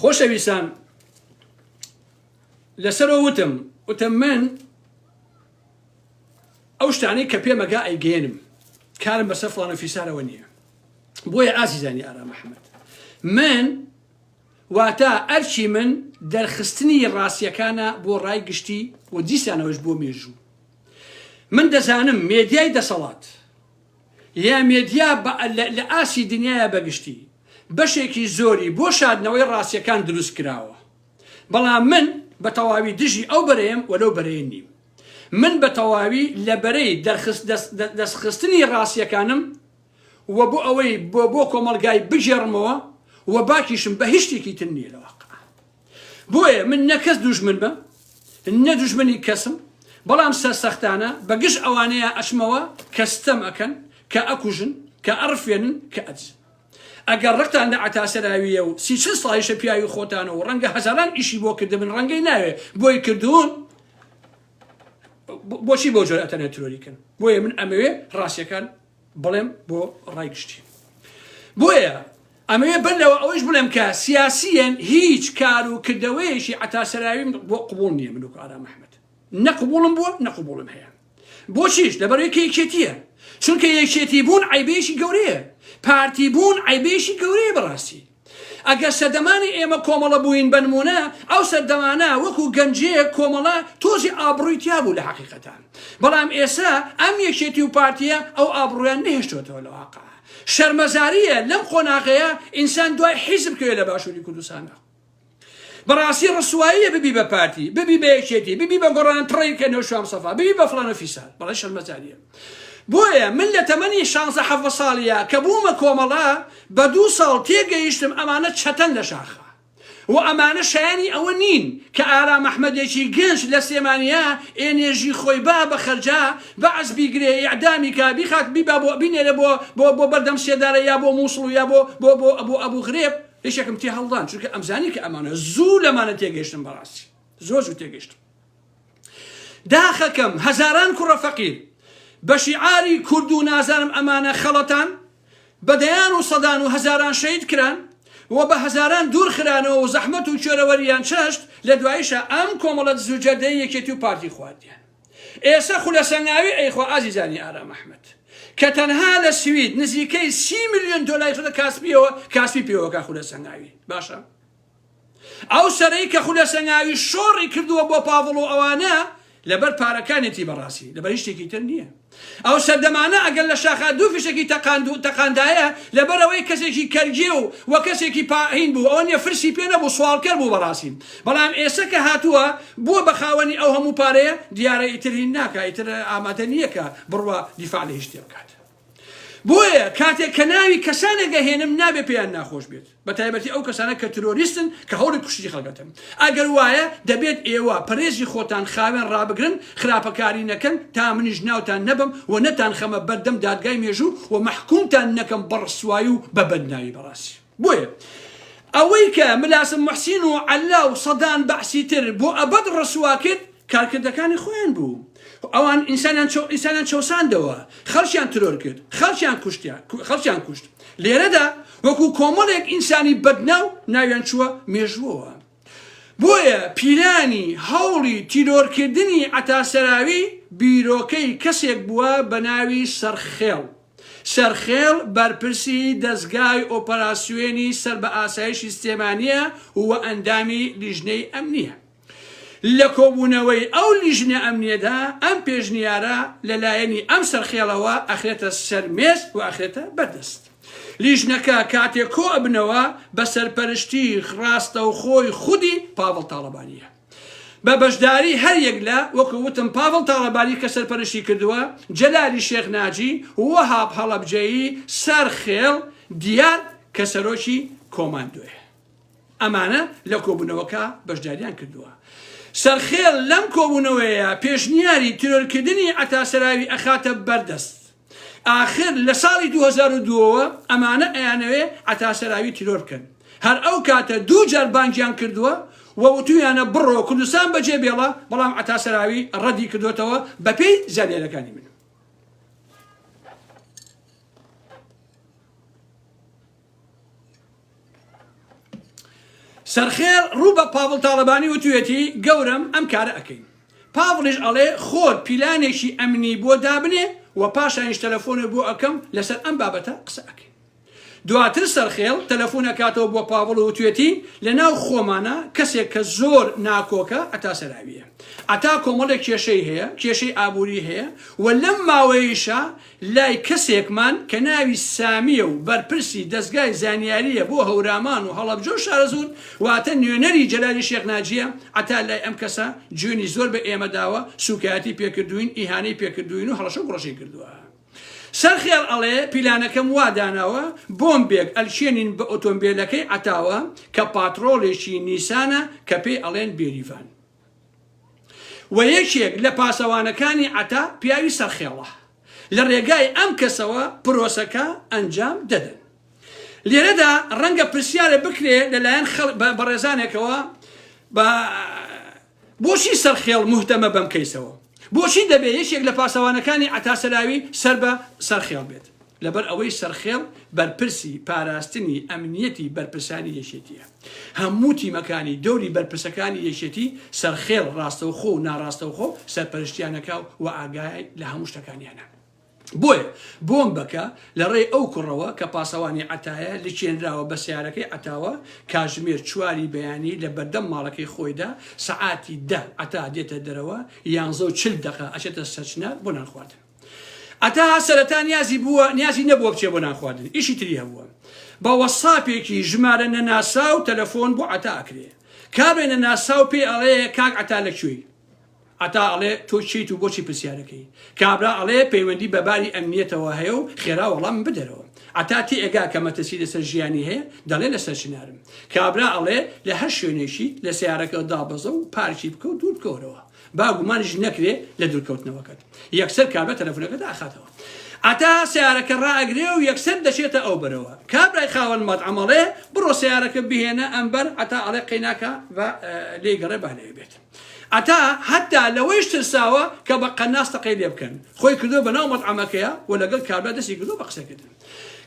خۆشەویستان لەسەرەوە وتم وتم من ئەو شتانەی کە پێمەگا ئەیگەێنم کارم بەسەر فلانە فیسارەوە نییە بۆیە ئازیزانی ئارا محەممەد من واتە ئەرچی من دەرخستنی ڕاستیەکانە بۆ ڕای گشتی و دیسانەوەش بۆ مێژوو من دەزانم مێدیای دەسەڵات یا مێدیا لە ئاستی دنیایە بەگشتی بەشێکی زۆری بۆ شاردنەوەی ڕاستیەکان دروست کراوە بەڵام من بە تەواوی دژی ئەو بەرەیەم وەلو بەرەیە نیم من بە تەواوی لە بەرەی دەستخستنی ڕاستیەکانم و بۆ ئەوەی بۆ بۆ کۆمەلگای بگێڕمەوە و باکیشم بە هیچ شتێکی تر نییە لەوە بۆیە من نە کەس دوژمن بم نە دوژمنی کەسم بەڵام سەرسەختانە بە گژ ئەوانەیە ئەچمەوە کە ستەم ئەکەن کە ئەکوژن کە ئەڕفێنن کە ئەدزن ئەگەر ڕقتان لە عەتاسەراویە و سی چل ساڵیشە پیاوی خۆتانە و ڕەنگە هەزاران ئیشی بۆ کردبن ڕەنگەی ناوێ بۆی کردوون بۆچی بۆ جۆرە ئەتەنە ترۆریکن بۆیە من ئەمەوێ ڕاستیەکان بڵێم بۆ ڕای گشتی بۆیە ئەمەوێ بەر لەوە ئەوەش بڵێم کە سیاسیەن هیچ کار و کردەوەیەکی عتاسەراویم بۆ قوبول نییە من و ئارام ئەحمد نەقبوڵم بووە نەقبوڵم هەیە بۆچیش لەبەرێکی یەکێتیە چونکە یەکێتی بوون عیبێکی گەورەیە پارتی بوون عیبێکی گەورەیە بەڕاستی ئەگەر سەردەمانی ئێمە کۆمەڵە بووین بەنموونە ئەو سەردەمانە وەکو گەنجەیە کۆمەڵە تۆزی ئابڕووی تیا بوو لە حقیقەتان بەڵام ئێسا ئەم یەکێتی و پارتیە ئەو ئابڕویان نهێشتۆتەوە لە واقع شەرمەزاریە لەم قۆناغەیە ئینسان دوای حیزب کوێ لە باشووری کوردستانە بەڕاستی ڕسواییە ببی بە پارتی ببی بە یەکێتی ببی بە گۆڕان تڕی کە نەوشام سەفا ببی بە فلانە فیسان بەڵێ شەرمەزاریە بۆیە من لە تەمەنی شانزە حەڤە ساڵیە کە بوومە کۆمەڵە بە دوو ساڵ تێگەیشتم ئەمانە چەتەن لە شاخە و ئەمانە شایانی ئەوە نین کە ئارا مححمەدێکی گەنج لە سلێمانیا ئێنێژی خۆی با بە خەرجا بەعس بیگرێ یعدامی کا بیخات بیبا بۆ بینێرە بۆ بۆ بۆ بەردەم سێدارە یا بۆ مووسڵ و یا بۆ بۆ بۆ ئەبوو ئەبوو غرێب یەکێکم تێ هەڵدان چونکە ئەمزانی کە ئەمانە زوو لەمانە تێگەشتم بەڕاستی زۆر زوو تێگەشتم داخەکەم هەزاران کوڕە فەقیر بە شیعاری کورد و نازانم ئەمانە خەڵەتان بە دەیان و سەدان و هەزاران شەید کران و بە هەزاران دوور خرانەوە و زەحمەت و کوێرەوەریان چەشت لە دوایشە ئەم کۆمەڵەت زوجەردەی یەکێتی و پارتی خواردیان ئێسە خولە سەنگاوی ئەیخوا ئازیزانی ئارام ئەحمەد کە تەنها لە سوید نزیکەی سی ملیۆن دۆلاری خۆتە کاسپیەوە کاسپی پێوەکە خولە سەنگاوی باشە ئەو سەرەی کە خولە سەنگاوی شۆڕی کردووە بۆ پاڤڵ و ئەوانە لەبەر پارەکانێتی بەڕاستی لەبەر هیچ شتێکی تر نییە ئەو سەردەمانە ئەگەر لە شاخا دوو فیشەکی تەقاند و تەقاندایە، لەبەرئەوەی کەسێکی کەرگێ و و کەسێکی پا هین بوو، ئەوە نیە فرسی پێ نەبوو، سواڵکەر بوو بەڕاستی. بەڵام ئێسە کە هاتووە، بووە بە خاوەنی ئەو هەموو پارەیە، دیارە ئیتر هین ناکا، ئیتر ئامادە نیە کە بڕوا دیفاع لە هیچ شتێ بکات. بۆیە کاتێک کە ناوی کەسانێک ئەهێنم، نابێ پێیان ناخۆش بێت. بەتایبەتی ئەو کەسانە کە ترۆریستن کە هەوڵی کوشتنی خەڵکەتن ئەگەر وایە دەبێت ئێوە پەرێزی خۆتان خاوێن ڕابگرن خراپەکاری نەکەن تا منیش ناوتان نەبەم و نەتان خەمە بەردەم دادگای مێژوو و مەحکومتان نەکەم بە ڕسوایی و بە بەدناوی بەڕاستی بۆیە ئەوەی کە ملاسم موحسین و عەللا و سەدان بەعسی تر بۆ ئەبەد ڕسوا کرد کارکردەکانی خۆیان بوو ئەوان ئینسانیان چەو ئینسانیان چەوساندەوە خەڵکیان ترۆر کرد خەڵکیان کوشتیان خەڵکیان کوشت لێرەدا وەکو کۆمەڵێک ئینسانی بەدناو ناویان چووە مێژووەوە بۆیە پیلانی هەوڵی تیرۆرکردنی عەتاسەراوی بیرۆکەی کەسێک بووە بە ناوی سەرخێڵ سەرخێڵ بەرپرسی دەزگای ئۆپەراسیۆنی سەر بە ئاسایشی سلێمانییە و ئەندامی لیژنەی ئەمنییە. لە کۆبوونەوەی ئەو لیژنە ئەمنیەدا ئەم پێشنیارە لە لایەنی ئەم سەرخێڵەوە ئەخرێتە سەر مێز و ئەخرێتە بەر دەست لیژنەکە کاتێ کۆ ئەبنەوە بە سەرپەرشتی ڕاستەوخۆی خودی پاڤڵ تاڵەبانیە بە بەشداری هەر یەک لە وەکو وتم پاڤڵ تاڵەبانی کە سەرپەرشتی کردووە جەلالی شێخ ناجی وەهاب هەڵەبجەیی سەر خێڵ دیار کە سەرۆکی کۆماندۆیە. ئەمانە لە کۆبوونەوەکە بەشداریان کردووە. سەرخێل لەم کۆبوونەوەیە پێشنیاری تیرۆرکردنی عەتا سەراوی ئەخاتە بەر دەست. ئاخر لە ساڵی دوو هەزار و دوو ەوە ئەمانە ئەیانەوێ عەتا سەراوی تیرۆر بکەن. هەر ئەو کاتە دوو جار بانگیان کردووە و وتوویانە بڕۆ کوردستان بەجێ بێڵە، بەڵام عەتا سەراوی ڕەدی کردووەتەوە بە پێی زانیاریەکانی من. سەرخێڵ ڕوو بە پاڤڵ تاڵەبانی وتویەتی گەورەم ئەم کارە ئەکەین پاڤڵیش ئەڵێ خۆت پیلانێکی ئەمنی بۆ دابنێ و پاشانیش تەلەفۆنێ بۆ ئەکەم لەسەر ئەم بابەتە قسە ئەکەین دواتر سەرخێڵ تەلەفۆن ئەکاتەوە بۆ پاڤڵ و توێتی لەناو خۆمانە کەسێک کە زۆر ناکۆکە ئەتا سەراویە ئەتا کۆمەڵێک کێشەی هەیە کێشەی ئابووری هەیە و لەم ماوەیشە لای کەسێکمان کە ناوی سامییە و بەرپرسی دەزگای زانیارییە بۆ هەورامان و هەڵەبجە و شارەزوور، واتە نوێنەری جەلالی شێخ ناجییە، عەتا لای ئەم کەسە جوێنی زۆر بە ئێمە داوە، سووکایەتی پێ کردووین، ئیهانەی پێ کردووین و هەڵەشە و گوڕەشی کردووە. سەرخێڵ ئەڵێ، پیلانەکەم وا داناوە بۆمبێک ئەلکێنین بە ئۆتۆمبێلەکەی عەتاوە کە پاتڕۆڵێکی نیسانە کە پێی ئەڵێن بێریڤان. و یەکێک لە پاسەوانەکانی عەتا پیاوی سەرخێڵە لە رێگای ئەم کەسەوە پرۆسەکە ئەنجام دەدەن. لێرەدا رەنگە پرسیارە بکرێ لە لایەن بەڕێزانێکەوە بۆچی سەرخێڵ موهتەمە بەم کەیسەوە؟ بۆچی دەبێ یەکێک لە پاسەوانەکانی عەتا سەلاوی سەر بە سەرخێڵ بێت؟ لەبەر ئەوەی سەرخێڵ بەرپرسی پاراستنی ئەمنیەتی بەرپرسانی یەکێتیە. هەموو تیمەکانی دەوری بەرپرسەکانی یەکێتی سەرخێڵ ڕاستەوخۆ و ناڕاستەوخۆ سەرپەرشتیان ئەکا و ئاگای لە هەموو شتەکانیانە. بۆیە بۆمبەکە لە ڕێی ئەو کوڕەوە کە پاسەوانی عەتایە لکێنراوە بە سەیارەکەی عەتاوە، کاتژمێر چواری بەیانی لە بەردەم ماڵەکەی خۆیدا سەعاتی دە عەتا دێتە دەرەوە یانزە و چل دەقە ئەچێتە سەرچنار بۆ نان خواردن. عەتا سەرەتا نیازی بووە نیازی نەبووە بچێ بۆ نان خواردن ئیشی تری هەبووە. بە وەتساپێکی ژمارە نەناساو تەلەفۆن بۆ عەتا ئەکرێ. کابرای نەناساو پێی ئەڵێ کاک عەتا لە کوێی؟ عەتا ئەڵێ تۆ کێیت و بۆچی پرسیارەکەی؟ کابرا ئەڵێ پەیوەندی بە باری ئەمنیەتەوە هەیە و خێرا وەڵامم بدەرەوە. عەتا تێئەگا کە مەترسی لەسەر ژیانی هەیە، دەڵێ لەسەر چنارم. کابرا ئەڵێ لە هەر شوێنێکیت لە سەیارەکەت دابەزە و پارکی بکە و دوور بکەوەرەوە. با گومانیش نەکرێ لە دوورکەوتنەوەکەت. یەکسەر کابرا تەلەفونەکە دائەخاتەوە. عەتا سەیارەکە ڕائەگرێ و یەکسەر دەچێتە ئەو بەرەوە. کابرای خاوەن مەتعەم ئەڵێ بڕۆ سەیارەکە بهێنە ئەمبەر، عەتا ئەڵێ قەیناکە با لێی گەڕێ با لەوێ بێت. ئەتا هەتا لەوەیش ترساوە کە بە قەناس تەقەی لێ بکەن خۆی کردوە بە ناو مەتعەمەکەیا و لەگەڵ کابرا دەستی کردوە بە قسە کردن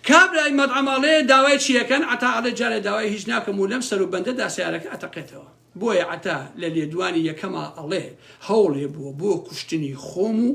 کابرای مەتعەم ئەڵێ داوای چی ئەکەن ئەتا ئەڵێ جارێ داوای هیچ ناکەم و لەم سەر و بەندەدا سەیارەکە ئەتەقێتەوە بۆیە ئەتا لە لێدوانی یەکەما ئەڵێ هەوڵێ بوە بۆ کوشتنی خۆم و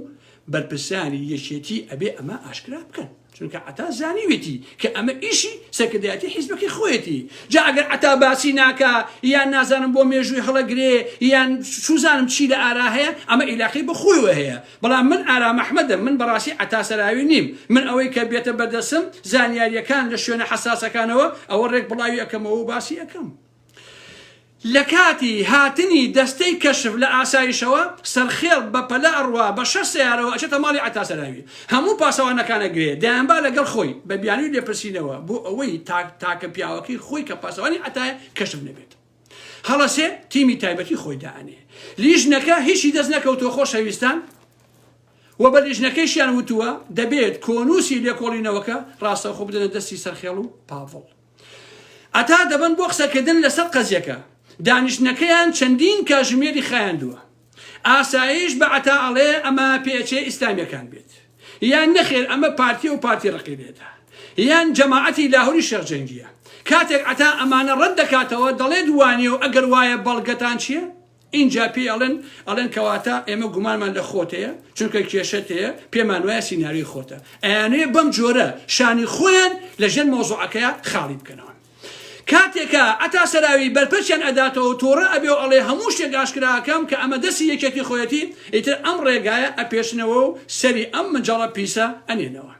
بەرپرسانی یەکێتی ئەبێ ئەمە ئاشکرا بکەن. چونکە عەتا زانیویەتی کە ئەمە ئیشی سەرکردایەتی حیزبەکەی خۆیەتی جا ئەگەر عەتا باسی ناکا یان نازانم بۆ مێژووی هەڵەگرێ یان چوزانم چی لە ئارا هەیە ئەمە ئیلاقەی بە خۆیەوە هەیە بەڵام من ئارام ئەحمەدم من بەڕاستی عەتا سەراوی نیم من ئەوەی کە بێتە بەردەسم زانیاریەکان لە شوێنە حەساسەکانەوە ئەوە ڕێک بڵاوی ئەکەمەوە و باسی ئەکەم. لە کاتی هاتنی دەستەی کەشف لە ئاسایشەوە سەرخێڵ بە پەلە ئەڕوا بە شەش سەیارەوە ئەچێتە ماڵی عەتا سەراوی هەموو پاسەوانەکانە گرێ دەیانبا لەگەڵ خۆی بە بیانوی لێپرسینەوە بۆ ئەوەی تاک تاکە پیاوەکەی خۆی کە پاسەوانی عەتایە کەشف نەبێت هەڵەسێ تیمی تایبەتی خۆی دائەنێ لیژنەکە هیچی دەست نەکەوتوە خۆشەویستان و بە لیژنەکەیشیان وتووە دەبێت کۆنووسی لێکۆڵینەوەکە ڕاستەوخۆ بدەنە دەستی سەرخێڵ و پاڤڵ عەتا دەبەن بۆ قسەکردن لەسەر قەزیەکە، دانیشتنەکەیان چەندین کاژمێری خایاندووە، ئاسایش بە عەتا ئەڵێ ئەمە پێچەی ئیسلامیەکان بێت یان نەخێر ئەمە پارتیە و پارتی ڕەقیبێتە یان جەماعەتی لاهوری شێخ جەنگیە، کاتێک عەتا ئەمانە ڕەت دەکاتەوە دەڵێت وانیەو ئەگەر وایە بەڵگەتان چیە؟ ئینجا پێی ئەڵێن ئەڵێن کەواتە ئێمە گومانمان لە خۆت هەیە چونکە کێشەت هەیە پێمان وایە سیناریۆی خۆتە ئەیانەیە بەم جۆرە شانی خۆیان لە ژێر مەوزوعەکەیە خاڵی بکەنەوە کاتێکە ئەتا سەراوی بەرپەرچیان ئەداتەوە تۆڕە ئەبێ و ئەڵێ هەموو شتێک ئاشکراکەم کە ئەمە دەسی یەکێتی خۆیەتی ئیتر ئەم ڕێگایە ئەپێشنەوە و سەری ئەم مجەڵە پیسە ئەنێنەوە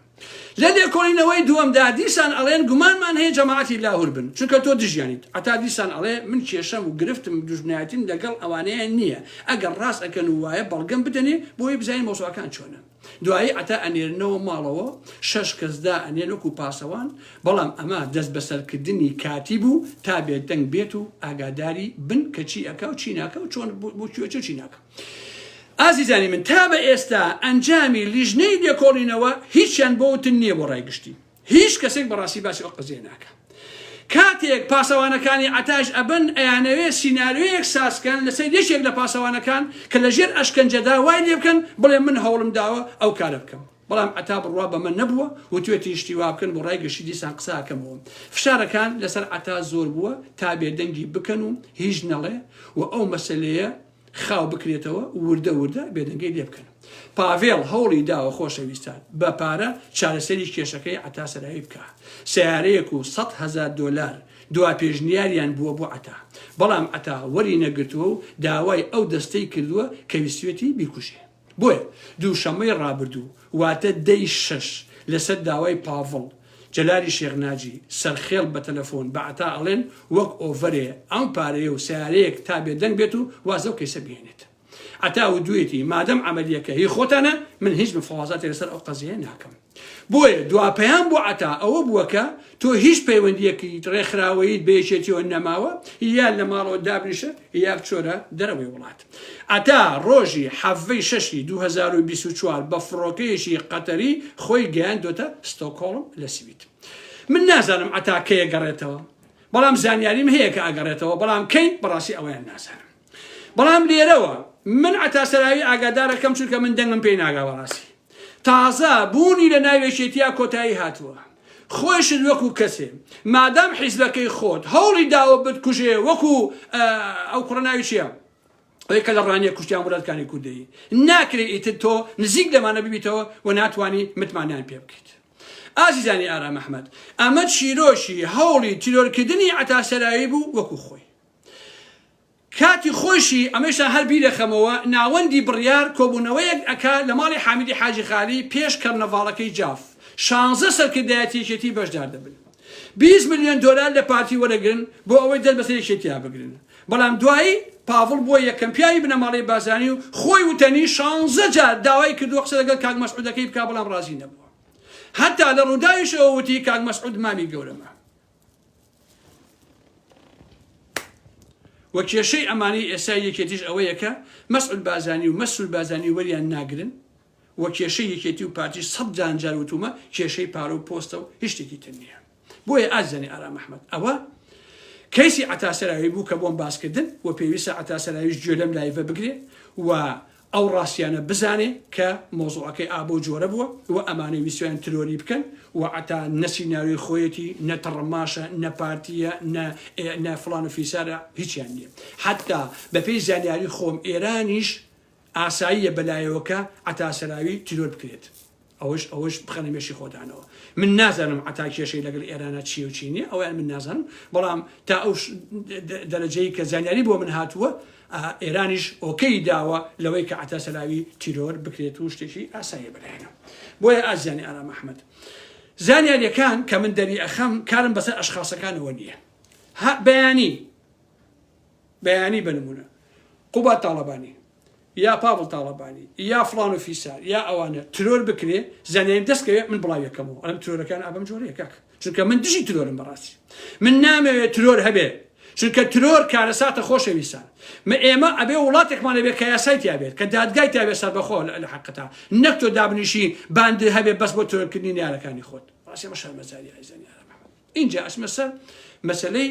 لە لێکۆڵینەوەی دووەمدا دیسان ئەڵێن گومانمان هەیە جەماعەتی لاهور بن چونکە تۆ دژیانیت عەتا دیسان ئەڵێ من کێشەم و گرفتم دوژمنایەتیم لەگەڵ ئەوانەیان نییە ئەگەر ڕاست ئەکەن و وایە بەڵگەم بدەنێ بۆی بزانین مەوزوعەکان چۆنە دوایی عەتا ئەنێرنەوە ماڵەوە شەش کەس دا ئەنێن وەکو پاسەوان بەڵام ئەمە دەست بەسەرکردنی کاتی بوو تا بێدەنگ بێت و ئاگاداری بن کە چی ئەکا و چی ناکا و چۆن بۆ کوێ چی و چی ناکا ئازیزانی من تا بە ئێستا ئەنجامی لیژنەی لێکۆڵینەوە هیچیان بۆ وتن نییە بۆ ڕای گشتی هیچ کەسێک بەڕاستی باسی ئەو قەزیە ناکە کاتێک پاسەوانەکانی عەتاش ئەبن ئەیانەوێ سیناریۆیەک سازکەن لەسەر یەکێک لە پاسەوانەکان کە لەژێر ئەشکەنجەدا وای لێ بکەن بڵێ من هەوڵم داوە ئەو کارە بکەم بەڵام عەتا بڕوا بەمە نەبووە وتوێتی شتی وا بکەن بۆ ڕای گەشتی دیسان قساکەمەوە فشارەکان لەسەر عەتا زۆر بووە تا بێدەنگی بکەن و هیچ نەڵێ و ئەو مەسلەیە خاو بکرێتەوە وردە وردە بێدەنگەی لێ بکەن پاڤێڵ هەوڵی داوە خۆشەویستان بە پارە چارەسەری کێشەکەی عتا سەراوی بکە سیارەیەک و سە هزار دلار دوا پێشنیاریان بووە بۆ عتا بەڵام عتا وەری نەگرتووە و داوای ئەو دەستەی کردووە کەویستێتی بیکوژێ بۆیە دووشەممەی ڕابردوو واتە دە ی شەش لەسەر داوای پاڤڵ جەلالی شێخ ناجی سەرخێڵ بە تەلەفۆن بە عەتا ئەڵێن وەک ئۆڤەرێ ئەم پارەیە و سەیارەیەک تا بێدەنگ بێت و واز لەو کەیسە بهێنێت عەتا وتویەتی مادەم عەمەلیەکە هی خۆتانە من هیچ مفاوازاتی لەسەر ئەو قەزیەیە ناکەم. بۆیە دواپیام بۆ عەتا ئەوە بووە کە تۆ هیچ پەیوەندییەکیت، ڕێکخراوەییت بە یەکێتییەوە نەماوە، یا لە ماڵەوە دابنیشە یا بچۆرە دەرەوەی وڵات. عەتا ڕۆژی حەڤی شەشی دوو هەزار و بیست و چوار بە فڕۆکەیەکی قەتەری خۆی گەیاندۆتە ستۆکهۆڵم لە سوید. من نازانم عەتا کەی ئەگەڕێتەوە، بەڵام زانیاریم هەیە کە ئەگەڕێتەوە، بەڵام کەی بەڕاستی ئەوەیان نازانم. بەڵام لێرەوە من عەتا سەراوی ئاگادارەکەم چونکە من دەنگم پێی ناگا بەڕاستی تازە بوونی لە ناو یەکێتیا کۆتایی هاتووە خۆشت وەکو کەسێ مادام حیزبەکەی خۆت هەوڵی داوە بتکوژێ وەکو ئەو کوڕە ناوی چیە ئەوەی کە لە ڕانیە کوشتیان وڵاتکانی کوردەیی ناکرێت ئیتر تۆ نزیک لەمانە ببیتەوە و ناتوانانی متمانیان پێ بکەیت ئازیزانی ئارام ئەحمەد ئەمە چیرۆکی هەوڵی تیرۆرکردنی عەتا سەرایی بوو وەکو خۆی کاتی خۆیشی، ئەمەیشتان هەر بیرەخەمەوە، ناوەندی بڕیار کۆبوونەوەیەک ئەکا لە ماڵی حامیدی حاجی خالی پێش کەرنەڤاڵەکەی جاف، شانزە سەرکردایەتی یەکێتی بەشدار دەبن بیست ملیۆن دۆلار لە پارتی وەرەگرن بۆ ئەوەی دەست بەسەر یەکێتیا بگرن، بەڵام دوایی پاڤڵ بووە یەکەم پیاوی بنەماڵەی بارزانی و خۆی وتەنی شانزە جار داوای کردووە قسە لەگەڵ کاک مەسعودەکەی بکا بەڵام ڕازی نەبووە هەتا لە ڕووداویشەوە وتی کاک مەسعود مامی گەورەمە و کێشەی ئەمانەی ئێستای یەکێتیش ئەوەیە کە مەسعود بازانی و مەسول بازانی وەریان ناگرن و کێشەی یەکێتی و پارتی سەد جانجار وتومە کێشەی پارە و پۆستە و هشتێکی تر نییە بۆیە ئازانی ئارام ئەحمد ئەوە کەیسی عتاسەراوی بوو کە بۆم باسکردن و پێویستە عتاسەراویش گوێ لەم لایڤە بگرێ و ئەو ڕاستیانە بزانێ کە مەوزوعەکەی ئابە و جۆرە بووە و ئەمانەی ویستویان ترۆری بکەن و عەتا نە سیناریۆی خۆیەتی نە تڕماشە نە پارتیە نە ئێ نە فڵان و فیسارە هیچیان نیە حەتا بە پێی زانیاری خۆم ئێرانیش ئاساییە بە لایەوەکە عەتا سەراوی ترۆر بکرێت. ئەوەش ئەوەش بخەنە مێشی خۆتانەوە من نازانم عەتا کێشەی لەگەڵ ئێرانە چیە و چی نیە ئەویان من نازانم بەڵام تا ئەو دەرەجەی کە زانیاری بۆ من هاتووە ئێرانیش ئۆکەی داوە لەوەی کە عەتا سەلاوی تیرۆر بکرێت و شتێکی ئاسایە بەلایەنە بۆیە ئازیانی ئارام ئەحمد زانیاریەکان کە من دەری ئەخەم کارم بەسەر ئەشخاصەکانەوە نییە بەیانی بەیانی بنمونە قوبات تاڵەبانی یا پاڤڵ تاڵەبانی یا فڵان و فیسار یا ئەوانە ترۆر بکرێ زانیاریم دەست کەوێ من بڵاوی ئەکەمەوە ئەڵێم ترۆرەکان ئا بەم جۆرەیە کاکە چونکە من دژی ترۆرم بەڕاستی من نامەوێت ترۆر هەبێ چونکە ترۆر کارەساتە خۆشەویستان من ئێمە ئەبێ وڵاتێکمان هەبێ کە یاسای تیا بێت کە دادگای تیا بێت سەربەخۆ لە لە حەقەتا نەک تۆ دابنیشی باندر هەبێ بەس بۆ ترۆرکردنی نیارەکانی خۆت ڕاستێمە شەرمەزاری ئایزانیارە محمد اینجا ئەچمە سەر مەسەلەی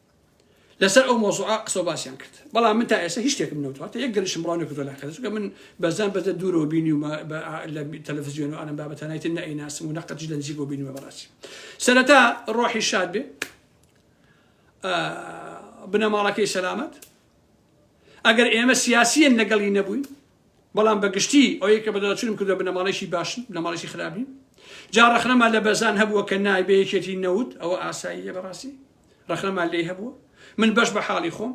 لەسەر ئەو مەوزوعە قسە و باسیان کرد بەڵام من تا ئێستا هیچ شتێکم نەوتوە هەتا یەک گەرشم بڵاو نەکردوە لە قەرە چونکە من بەزان بەزە دوورەوە بینیومە بە لە تەلەفزیۆن و ئەم بابەتە نایتر نەئیناسم و نەقەتیش لە نزیکەوە بینیومە بەڕاستی سەرەتا ڕۆحی شاد بێ بنەماڵەکەی سەلامەت ئەگەر ئێمە سیاسیەن لەگەڵی نەبووین بەڵام بەگشتی ئەوەیە کە بەدەچونم کردو بنەماڵێکی باشن بنەماڵێکی خراپین جا ڕخنەما لە بەزان هەبووە کە نایبەیەکێتی نەوت ئەوە ئاساییە بەڕاستی ڕەخنەمان لێی هەبووە من بەش بە حاڵی خۆم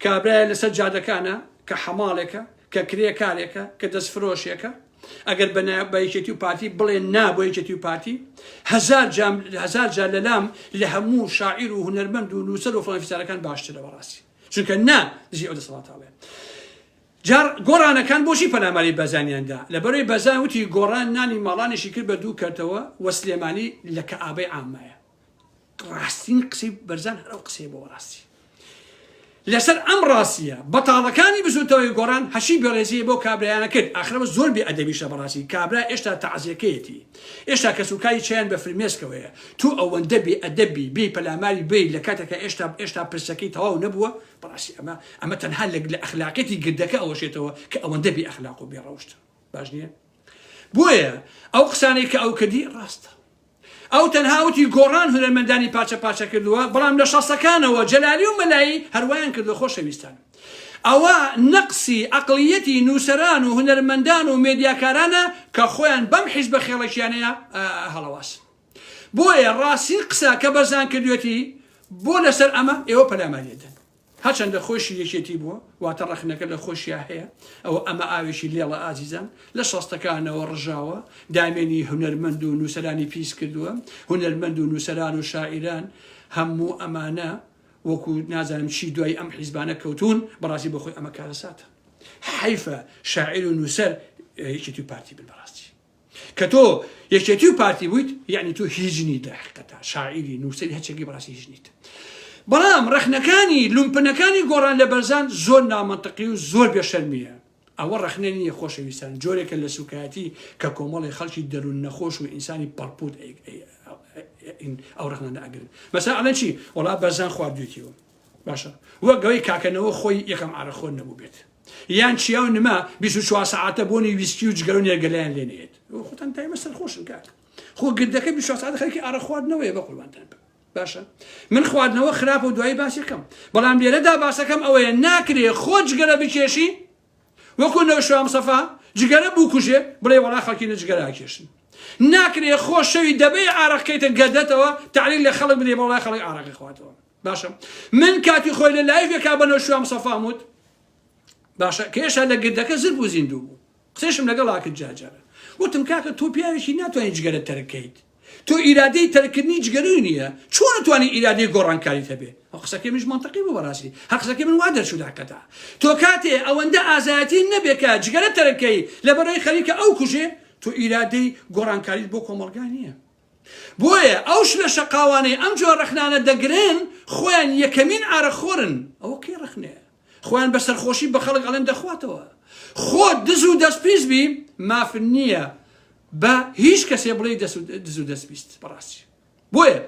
کابرایە لەسەر جادەکانە کە حەماڵێکە کە کرێکارێکە کە دەست فرۆشێکە ئەگەر بە یەکێتی و پارتی بڵێن نا بۆ یەکێتی و پارتی هزار هزار جار لەلام لە هەموو شاعیر و هوەرمەند و نووسەر و فلانفیسارەکان باشترە بەڕاستی چونکە نا دژی ئەو دەسەڵاتاڵێ جار گۆڕانەکان بۆشی پەلاماری بەزانیاندا لە بەرەی بەزان وتی گۆڕان نانی ماڵانیشی کرد بە دوو کەتەوە وە سلێمانی لە کە ئابەی ئامایە ڕاستین قسەی بەرزان هەر ئەو قسەیە بۆ ڕاستی لەسەر ئەم ڕاستیە بەتاڵەکانی بزوتەوەی گۆڕان هەشی بەڕێزی بۆ کابرایانە کرد ئاخرەوە زۆر بێ ئەدەبیشە بەڕاستی کابرا ئێشتا تەعزیەکەیەتی ئێشتا کەس و کاری چیان بە فرمێسکەوەیە تو ئەوەندە بێ ئەدەبی بێ پەلاماری بێ لە کاتێکە ئێشتا ئێشتا پرسەکەی تەواو نەبووە بەڕاستی ئەمە ئەمە تەنها لە لە ئەخلاقێتی گردەکە ئەوەشێتەوە کە ئەوەندە بێ ئەخلاق و بێ ڕەوشت باش نییە بۆیە ئەو قسانەی کە ئەو کردی ڕاستە ئەو تەنها وتی گۆڕان هونەرمەندانی پارچە پارچە کردووە بەڵام لە شەستەکانەوە جەلالی و مەلایی هەر وایان کردووە خۆشەویستان ئەوە نەقسی ئەقڵیەتی نووسەران و هونەرمەندان و مێدیاکارانە کە خۆیان بەم حیزبە خێڵەکیانەیە هەڵەواسن بۆیە ڕاستین قسە کە بەرزان کردوێتی بۆ لەسەر ئەمە ئێوە پەلاماریەدەن هەرچەندە خۆیشی یەکێتی بووە، واتە ڕەخنەکە لە خۆشیا هەیە، ئەوە ئەمە ئاوێکی لێڵە ئازیزان، لە شەستەکانەوە ڕژاوە، دامێنی هونەرمەند و نووسەرانی پیس کردووە، هونەرمەند و نووسەران و شاعیران هەموو ئەمانە وەکو نازانم چی دوای ئەم حیزبانە کەوتوون، بەڕاستی بۆ خۆی ئەمە کارەساتە. حەیفە شاعیر و نووسەر یەکێتی و پارتی بن بەڕاستی. کە تۆ یەکێتی و پارتی بوویت یعنی تۆ هیچ نیت لە حقیقەتە شاعیری نووسری هەچەکی بەڕاستی هیچ نیت بەڵام ڕەخنەکانی لومپنەکانی گۆڕان لە بەرزان زۆر نامەنتەقی و زۆر بێشەرمیە ئەوە ڕەخنە نییە خۆشەویستان جۆرێکە لە سوکایەتی کە کۆمەڵی خەڵکی دەروون نەخۆش و ئینسانی پەڕپوت ئەو ڕەخنانە ئەگرن مەسا ئەڵەن چی وڵا بەرزان خواردوێتیەوە باشە وەگەوەی کاکەنەوە خۆی یەکەم ئارەخۆر نەبوو بێت یان چیا و نما بیست و چوار سەعاتە بۆنی ویسکی و جگەرە و نێرگەلەیان لێ نەیەت خۆتان تایمە سەرخۆشن کاک خۆ گردەکە بیست و چوار سەعاتە خەرکی ئارە خواردنەوەیە بە قوربانتان بم باشە من خواردنەوە خراپ و دوایی باسەکەم بەڵام لێرەدا باسەکەم ئەوەیە ناکرێ خۆ جگەرە بکێشی وەکو نەوشام سەفا جگەرە بکوژێ بڵێ وەڵا خەڵکی نە جگەرا کێشن ناکرێ خۆ شەوی دەبێ ئارەقکەیتە گەدەتەوە تعلیل لە خەڵک بدێ بەڵای خەڵک ئارەقی خواتەوە باشە من کاتی خۆی لە لایڤێکا بە نەوشوان مسەفام وت باشە کێشە لە گردەکە زر بوو زیندوو بوو قسەشم لەگەڵ ئاکرد جاجارە وتم کاکە تۆ پیاوێکی ناتوانانی جگەرە تەرکەیت تۆ ئیرادەی تەرکردنی جگەرەی نییە چۆن توانی ئیرادەی گۆڕانکاریت هەبێ ئەو قسەکەی منش منطقی بوو بەڕاستی هە قسەکەی من وا دەرچوو داکەتا تۆ کاتێ ئەوەندە ئازایەتی نەبێکە جگەرە تەرکەی لەبەرەی خەریکە ئەو کوژێ تۆ ئیرادەی گۆڕانکاریت بۆ کۆمەڵگا نییە بۆیە ئەو شلە شەقاوانەی ئەم جۆرە ڕەخنانە دەگرن خۆیان یەکەمین ئارەق خۆرن ئەوە کەی ڕەخنێ خۆیان بە سەرخۆشی بە خەڵک ئەڵێن دەخواتەوە خۆ دز و دەست پیس بی ماف نییە بە هیچ کەسێ بڵێ دز و دەست بیست بەڕاستی بۆیە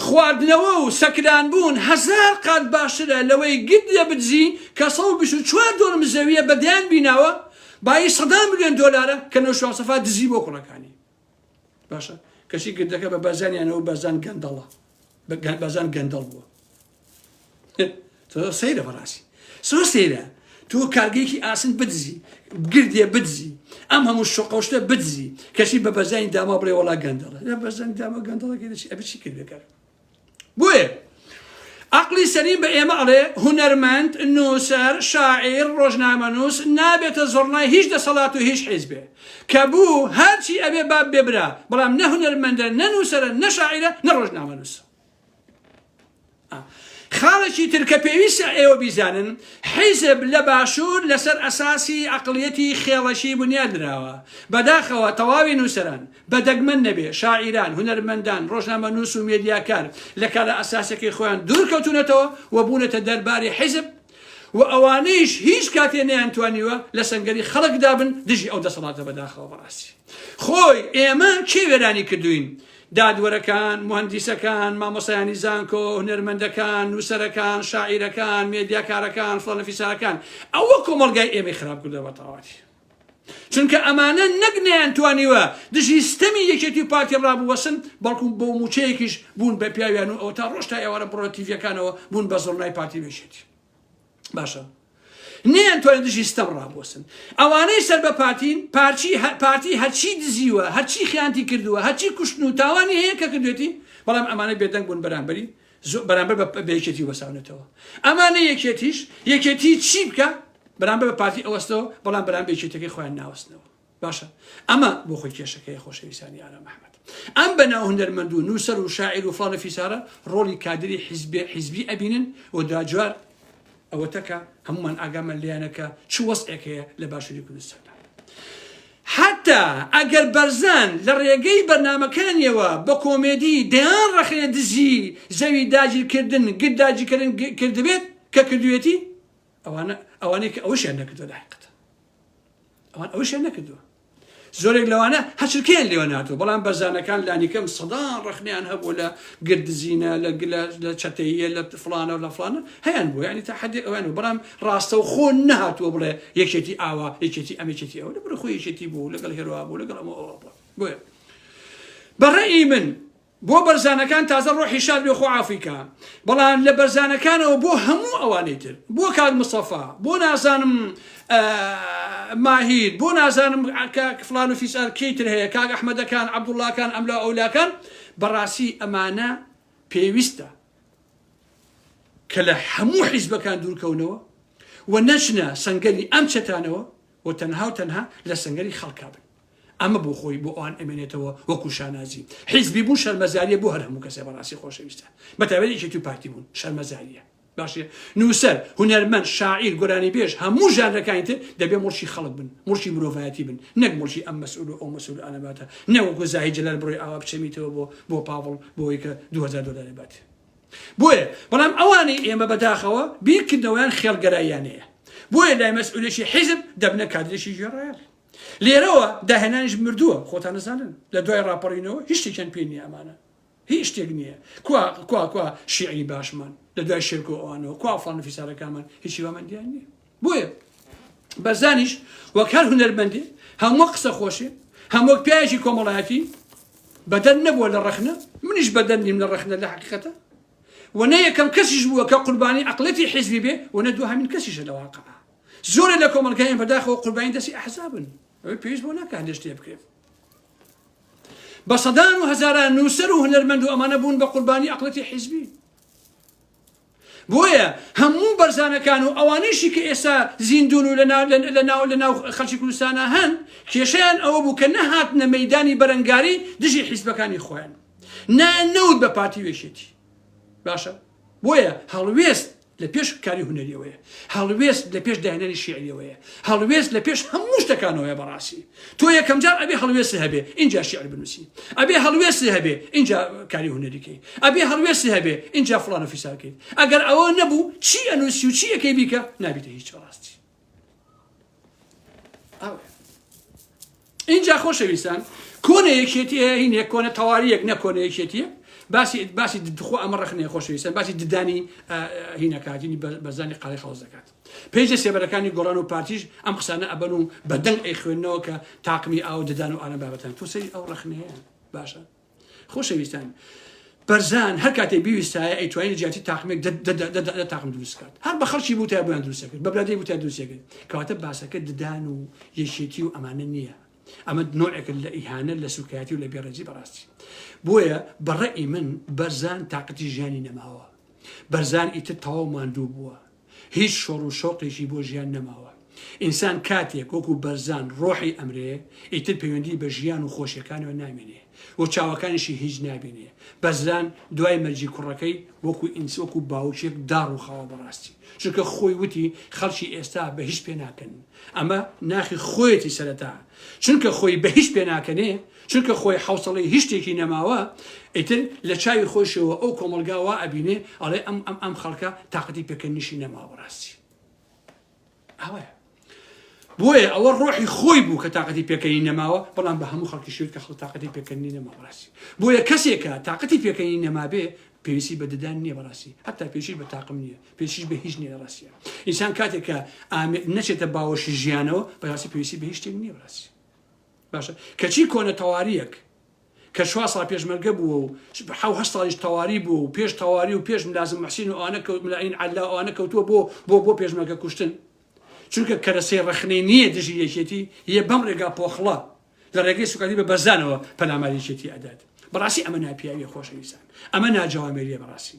خواردنەوە و سەکران بوون هەزار قات باشترە لەوەی گت لە بدزی کە سە و بیست و چوار دۆرم زەویە بەدەیان بیناوە بایی سەدان ملیۆن دۆلارە کە نەوشاوسەفا دزی بۆ کوڕەکانی باشە کەچی گردەکە بە بەرزانیانەوە بەرزان گەندەڵە بەرزان گەندەڵ بووە تۆ سەیرە بەڕاستی سۆ سەیرە تۆ کارگەیەکی ئاسن بدزی گردێ بدزی ئەم هەموو شقەشتە بدزی کەچی بە بەرزانی داما بڵێ وڵا گەندەڵە لە بەرزانی داما گەندەڵەکە دەچی ئەبچی کردەکە بۆیە عەقڵی سەلیم بە ئێمە ئەڵێ هونەرمەند، نووسەر، شاعیر، ڕۆژنامەنووس نابێتە زوڕنای هیچ دەسەڵات و هیچ حیزبێ. کە بوو هەرچی ئەبێ با ببێ برا، بەڵام نە هونەرمەندە، نە نووسەرە، نە شاعیرە، نە ڕۆژنامەنووسە. خاڵێکی تر کە پێویستە ئێوە بیزانن، حیزب لە باشوور لەسەر ئەساسی عەقڵیەتی خێڵەکی بنیات نراوە. بەداخەوە تەواوی نووسەران، بە دەگمەن نەبێ، شاعیران، هونەرمەندان، ڕۆژنامەنووس و مێدیاکار لە کارە ئەساسیەکەی خۆیان دوور کەوتوونەتەوە و بوونەتە دەرباری حیزب و ئەوانەیش هیچ کاتێ نەیانتوانیوە لە سەنگەری خەڵک دا بن دژی ئەو دەسەڵاتە بەداخەوە بەڕاستی خۆی ئێمە کێ وێرانی کردووین دادوەرەکان، موهەندیسەکان، مامۆستایانی زانکۆ، هونەرمەندەکان، نووسەرەکان، شاعیرەکان، مێدیاکارەکان، فڵانەفیسارەکان ئەوە کۆمەڵگای ئێمەی خراپ کردووە بە تەواوەتی. چونکە ئەمانە نەک نەیانتوانیوە دژی ستەمی یەکێتی و پارتی ڕابوەسن بەڵکو بەو موچەیەکیش بوون بە پیاویان و ئەو تا ڕۆژ تا ئێوارە بڕە تیڤەکانەوە بوون بە زڕنای پارتی بێشێتی باشە نیان توانێت دژی ستەم ڕابوەسن ئەوانەی سەر بە پارتین پارچی پارتی هەرچی دزیوە هەرچی خیانتی کردووە هەرچی کوشتن و تاوانی هەیە کە کردێتی بەڵام ئەمانە بێدەنگ بوون بەرامبەری زۆ بەرامبەر بە بە یەکێتی وەساونەتەوە ئەمانە یەکێتیش یەکێتی چی بکە بەرامبەر بە پارتی ئەوەستەوە بەڵام بەرام بێکێتەکەی خۆیان ناوەستنەوە باشە ئەمە بۆ خۆی کێشەکەی خۆشەویستانی ئارا مححمد ئەم بەناو هەندەرمەند و نووسەر و شاعیر و فڵانە فیسارە ڕۆلی کادری حیزبێ حیزبی ئەبینن و داجار ئەوەتا کە هەموومان ئاگامان لێیانە کە چ وەزعێک هەیە لە باشووری کوردستاندا. حەتتا ئەگەر بەرزان لە ڕێگەی بەرنامەکانیەوە بە کۆمێدی دەیان ڕەخنە دژی زەوی داگیر کردن گرد داگیر کردن کردبێت کە کردوێتی ئەوانە ئەوانەی کە ئەوەشیان نەکردوە لە حقیقەتە ئەوان ئەوەشیان نەکردوە زۆرێک لەوانە هەچرکەیان لێوە ناتوە بەڵام بەرزانەکان لانیکەم سەدان ڕخنیان هەبوو لە گردزینە لە گلە لە چەتەیە لە فلانە و لە فلانە هەیان بوو ینی تا حدی ئەویان و بەڵام ڕاستە و خۆ نهاتوە بڵێ یەکێتی ئاوا یەکێتی ئەمێکێتی ئەوە بڕ خۆ یەکێتی بوو لەگەڵ هێروا بوو لەگەڵ ئەمە ئەوە بۆیە بەڕێی من بۆ بەرزانەکان تازە ڕۆحی شاد بێ خۆ عافوی کا بەڵام لە بەرزانەکانەوە بۆ هەموو ئەوانەی تر بۆ کاک مستەفا بۆ نازانم ماهیر بۆ نازانم کاک فلان و فیسار کێی تر هەیە کاک ئەحمەدەکان عەبدوڵڵاکان ئەملا ئەولاکان بەڕاستی ئەمانە پێویستە کە لە هەموو حیزبەکان دوورکەونەوە و نەچنە سەنگەری ئەم چەتانەوە و تەنها و تەنها لە سەنگەری خەڵکا بن. ئەمە بۆ خۆی بۆ ئەوان ئەمێنێتەوە وەکو شانازی. حیزبی بوون شەرمەزاریە بۆ هەر هەموو کەسێ بەڕاستی خۆشەویستە. بە تایبەت یەکێتی و پارتی بوون شەرمەزاریە. باشە نووسەر، هونەرمەند، شاعیر، گۆرانیبێژ، هەموو ژانرەکانی تر دەبێ مڵکی خەڵک بن، مڵکی مرۆڤایەتی بن، نەک مڵکی ئەم مەسئول و ئەو مەسئول و ئالەباتە. نەک وەکو زاهید جەلال بڕۆی ئاوا بچەمیتەوە بۆ بۆ پاڤڵ بۆ ئەوەی کە دوو هەزار دۆلاری بات. بۆیە بەڵام ئەوانەی ئێمە بەداخەوە بیرکردنەوەیان خێڵگەراییانەیە بۆیە لای مەسئولێکی حیزب دەبنە کادرێکی ژێڕایەڵ لێرەوە داهێنانیش مردووە خۆتان نەزانن لە دوای ڕاپەڕینەوە هیچ شتێکیان پێ نییە ئەمانە هیچ شتێک نییە کوا کوا کوا شیعری باشمان لە دوای شێرکۆ ئەوانەوە کوا فڵان فیسارەکانمان هیچی واماندیان نییە بۆیە بەرزانیش وەک هەر هونەرمەندێ هەم وەک قسە خۆشێ هەم وەک پیاوێکی کۆمەڵایەتی بەدەر نەبووە لە ڕەخنە منیش بەدەر نیم لە ڕەخنە لە حقیقەتە و نە یەکەم کەسیش بووە کە قوربانی عقلەتی حزبی بێ و نە دو هەمین کەسیشە لە واقع زۆرە لە کۆمەلگایان بەداخەوە قوربانی دەستی ئەحزابن ئەوەی پێویست بۆ ناکە هەندێک شتێ بکرێت بە سەدان و هەزاران نووسەر و هونەرمەند و ئەمانە بوون بە قوربانی ئەقلەتی حیزبی بۆیە هەموو بەرزانەکان و ئەوانەیشی کە ئێستا زیندوون و لەناو خەڵکی کوردستانا هەن، کێشەیان ئەوە بوو کە نەهاتنە مەیدانی بەرەنگاری دژی حیزبەکانی خۆیان. نایان نەوت بە پارتی و یەکێتی. باشە، بۆیە هەڵوێست لە پێش کاری هونەرییەوەیە. هەڵوێست لە پێش داهێنانی شیعرییەوەیە. هەڵوێست لە پێش هەموو شتەکانەوەیە بەڕاستی. تۆ یەکەمجار ئەبێ هەڵوێستی هەبێ اینجا شعر بنووسی ئەبێ هەڵوێستی هەبێ اینجا کاری هوەریکەی ئەبێ هەڵوێستی هەبێ اینجا فلان و فیساکەیت ئەگەر ئەوە نەبوو چی ئەنووسی و چی یەکەی بیکە نابیتە هیچ ڕاستی اینجا خۆشەویستان کۆنە یەکێتی هین یەک کۆنە تەواریەک نەکۆنە یەکێتیە باسی باسی دخۆ ئەمە ڕخنێ خۆشەویستان باسی ددانی هینەکاتینی بەزانی قاڵی خەڵز دەکات پەیجە سێبەرەکانی گۆڕان و پارتیش ئەم قسانە ئەبەن و بە دەنگ ئەیخوێنەوە کە تاقمی ئاو ددان و ئالە بابەتان تۆ سەری ئەو ڕخنەیە باشە خۆشەویستان بەرزان هەر کاتێ بیویستایە ئەیتوانین جیاتی تاقمێک تاقم دروستکات هەر بە خەڵکی بوو تا بۆیان دروستەکرد بە برادی بوو تا دروستەکرد کەواتە باسەکە ددان و یەکێتی و ئەمانە نییە ئەمە نوعێک لە ئیهانە لە سوکایەتی و لە بێڕێزی بەڕاستی بۆیە بەڕێ من بەرزان تااقەتی ژیانی نەماوە بەرزان ئیتر تەواو ماندوو بووە هیچ شۆڕ و شەوقێکی بۆ ژیان نەماوە. ئینسان کاتێک وەکو بەرزان ڕۆحی ئەمرێ، ئیتر پەیوەندی بە ژیان و خۆشیەکانیەوە نامێنێ و چاوەکانیشی هیچ نابینێ. بەزران دوای مەرگی کوڕەکەی وەکو ئینس وەکو باوکێک داڕوخاوە بەڕاستی. چونکە خۆی وتی خەڵکی ئێستا بە هیچ پێناکەنن. ئەمە ناخی خۆیەتی سەرەتا چونکە خۆی بە هیچ پێناکەنێ، چونکە خۆی حەوسەڵەی هیچ شتێکی نەماوە ئیتر لە چاوی خۆشەوە ئەو کۆمەڵگا وا ئەبینێ ئەڵێ ئەم ئەم ئەم خەڵکە تااقەتی پێکەنیشی نەماوە بەڕاستی ئەوەیە بۆیە ئەوە ڕۆحی خۆی بوو کە تااقەتی پێکەنی نەماوە بەڵام بە هەموو خەڵکی شوێت کە خڵ تااقەتی پێکەنی نەما بەڕاستی بۆیە کەسێکە تااقەتی پێکەنی نەمابێ پێویستی بە ددان نییە بەڕاستی هەتا پێشی بە تاقم نییە پێشیش بە هیچ نیە ڕاستە ئینسان کاتێکە نەچێتە باوەشی ژیانەوە بەڕاستی پێویستی بە هیچ شتێک نییە ڕاستی باشە کەچی کۆنە تەواریەک کە چوار ساڵ پێشمەرگە بووە و حەو هەشت ساڵیش تەواری بووە و پێش تەواری و پێش ملازم محسین و ئەوانە کەوت ملائین عەلا و ئەوانە کەوتووە بۆ بۆ بۆ پێشمەرگە کوشتن چونکە کەرەسەی ڕەخنەی نییە دژی یەکێتی یە بەم ڕێگا پۆخڵە لە ڕێگەی سوکاتی بە بەرزانەوە پەلاماری یەکێتی ئەدات بەڕاستی ئەمە ناپیاویە خۆشەویستان ئەمە ناجەوامێریە بەڕاستی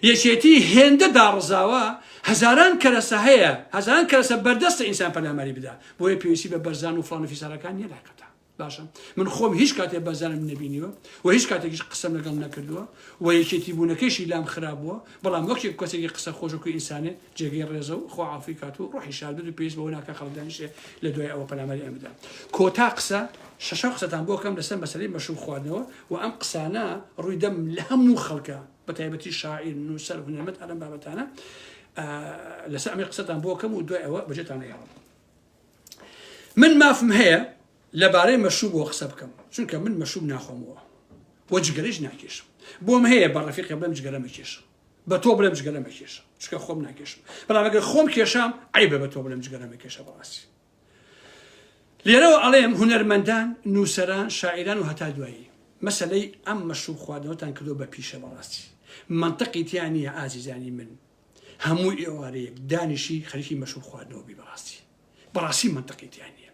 یەکێتی هێندە داڕزاوە هەزاران کەرەسە هەیە هەزاران کەرەسە بەردەستە ئینسان پەلاماری بدا بۆیە پێویستی بە بەرزان و فلان و فیسارەکان نیە لاقەتە باشە من خۆم هیچ کاتێ بەزانم نبینیوە و هیچ کاتێکیش قسەم لەگەڵ نەکردووە و یەکێتی بوونەکەشی لام خراپ بووە بەڵام وەکێک کەسێکی قسە خۆشەکو ئینسانێ جێگەی ڕێزە و خوا عافوی کات و ڕۆحی شاد بێت و پێویست بەوە ناکات خەڵک دانیشێ لە دوای ئەوە پەلاماری ئێمە بدات. کۆتا قسە، شەشەم قسەتان بۆ ئەکەم لەسەر مەسەلەی مەشروب خواردنەوە و ئەم قسانە ڕووی دەم لە هەموو خەڵکە بە تایبەتی شاعیر، نووسەر، هونەرمەند هەر ئەم بابەتانە لەسەر ئەمەی قسەتان بۆ ئەکەم و دوای ئەوە بەجێتان ئەهێڵم. من مافم هەیە لەبارەی مەشروبەوە قسە بکەم، چونکە من مەشروب ناخۆمەوە و جگەرەیش ناکێشم. بۆم هەیە بە ڕەفیقێ بڵێم جگەرە مەکێشە. بە تۆ بڵێم جگەرە مەکێشە چکە خۆم ناکێشم بەڵام ئەگەر خۆم کێشام عیبە بە تۆ بڵێم جگەرە مەکێشە بەڕاستی لێرەوە ئەڵێم هونەرمەندان نووسەران شاعران و هەتا دوایی مەسلەی ئەم مەشروب خواردنەوەتان کردو بە پیشە بەڕاستی منطقی تیا نییە ئازیزانی من هەموو ئێوارەیەک دانیشی خەریکی مەشروب خواردنەوە بی بەڕاستی بەڕاستی مەنتقی تیا نیە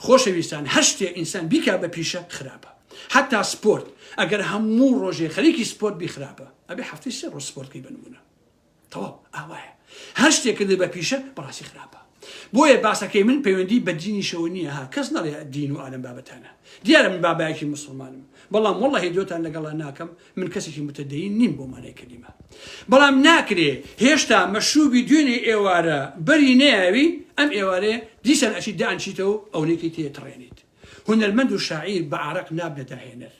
خۆشەویستان هەر شتێ ئینسان بیکا بە پیشە خراپە حتا سپۆرت ئەگەر هەموو ڕۆژێ خەریکی سپۆرت بی خراپە ئەبێ هەفتەی سێ ڕۆژ سپۆرتکەی بنمونە تەواو ئاوایە هەر شتێ کردی بە پیشە بەڕاستی خراپە بۆیە باسەکەی من پەیوەندی بە دینیشەوە نییە ها کەس نەڵێ دین و ئالم بابەتانە دیارە من بابایەکی مسلمانم بەڵام وڵی دۆتان لەگەڵا ناکەم من کەسێکی متدەین نیم بۆ مانای کەلیمە بەڵام ناکرێ هێشتا مەشروبی دوێنێ ئێوارە بەری نەیاوی ئەم ئێوارێ دیسان ئەچیت دانچیتەوە ئەونێکی تێ تڕێنیت هونەرمەند و شاعیر بە عارەق نابنە داهێنەر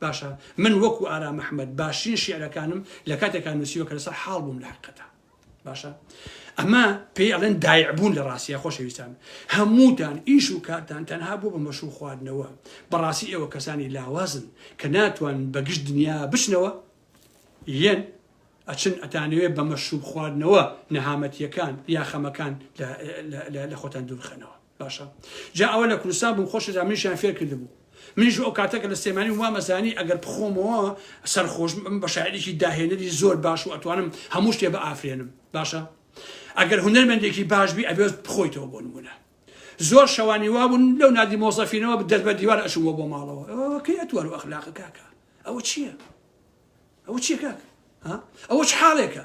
باشە من وەکو ئارام ئەحمەد باشترین شیعرەکانم لە کاتێکا نوسیوە کە لەسەر حاڵ بووم لە حەقیقەتا. باشە ئەمە پێی ئەڵێن دایعبوون لە ڕاستە خۆشەویستان هەمووتان ئیش و کارتان تەنها بۆ بە مەشوو خواردنەوە بەڕاستی ئێوە کەسانی لاوازن کە ناتوان بەگشت دنیا بچنەوە یەن ئەچن ئەتانەوێت بە مەشوب خواردنەوە نەهامەتیەکان یا خەمەکان لە خۆتان دوورخەنەوە باشە جا ئەوە لە کوردستان بوو خۆشە جا منیشیان فێر کردبوو منیش ئەو کاتە کە لە سلێمانی وام ئەزانی ئەگەر بخۆمەوە سەرخۆشم بم بە شاعیرێکی داهێنەری زۆر باش و ئەتوانم هەموو شتێ بە ئافرێنم باشە ئەگەر هونەرمەندێکی باش بی ئەبێت بخۆیتەوە بۆ نمونە زۆر شەوانی وابوون لەو نادی مۆزەفینەوە دەست بە دیوار ئەچووە بۆ ماڵەوە ئەوەکەی ئەتوار و ئەخلاقە کاکە ئەوە چییە؟ ئەوە چیە کاکە؟ ئەوە چ حاڵێکە؟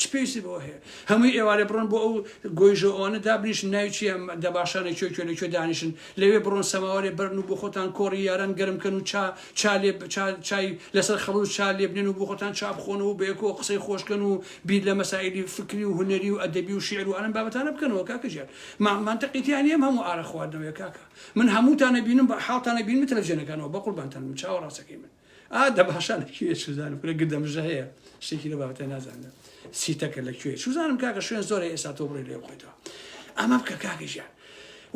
چ پێویستی بەوە هەیە هەمووی ئێوارێ بڕۆن بۆ ئەو گۆیژە ئەوانە دابنیشن ناوی چیە دەباشانە کوێ کوێ لە کوێ دانیشن لەوێ بڕۆن سەماوارێ بەرن و بۆ خۆتان کۆڕی یاران گەرم کەن و چا چا لێ چای لەسەر خەڵوز چا لێ بنێن و بۆ خۆتان چا بخۆنەوە بە یەکەوە قسەی خۆشکەن و بیر لە مەسائلی فکری و هونەری و ئەدەبی و شیعر و ئەم بابەتانە بکەنەوە کاکە ژیان ما منطقی تیا نییە هەموو ئارە خواردنەوەیە کاکە من هەمووتانە بینم بە حاڵتانە بینم تەلەفزیۆنەکانەوە بە قوربانتان بم چاوەڕاستەکەی من ئا دە باشە لە کوێ چوزانم کورە گردەمژە هەیە شتێکی لە بابەتە نازانم سیتەکە لە کوێ چوزانم کاکە شوێن زۆر هەیە ئێستا تۆ بڕی لێ بخۆیتەوە ئەمە بکە کاکە ژیان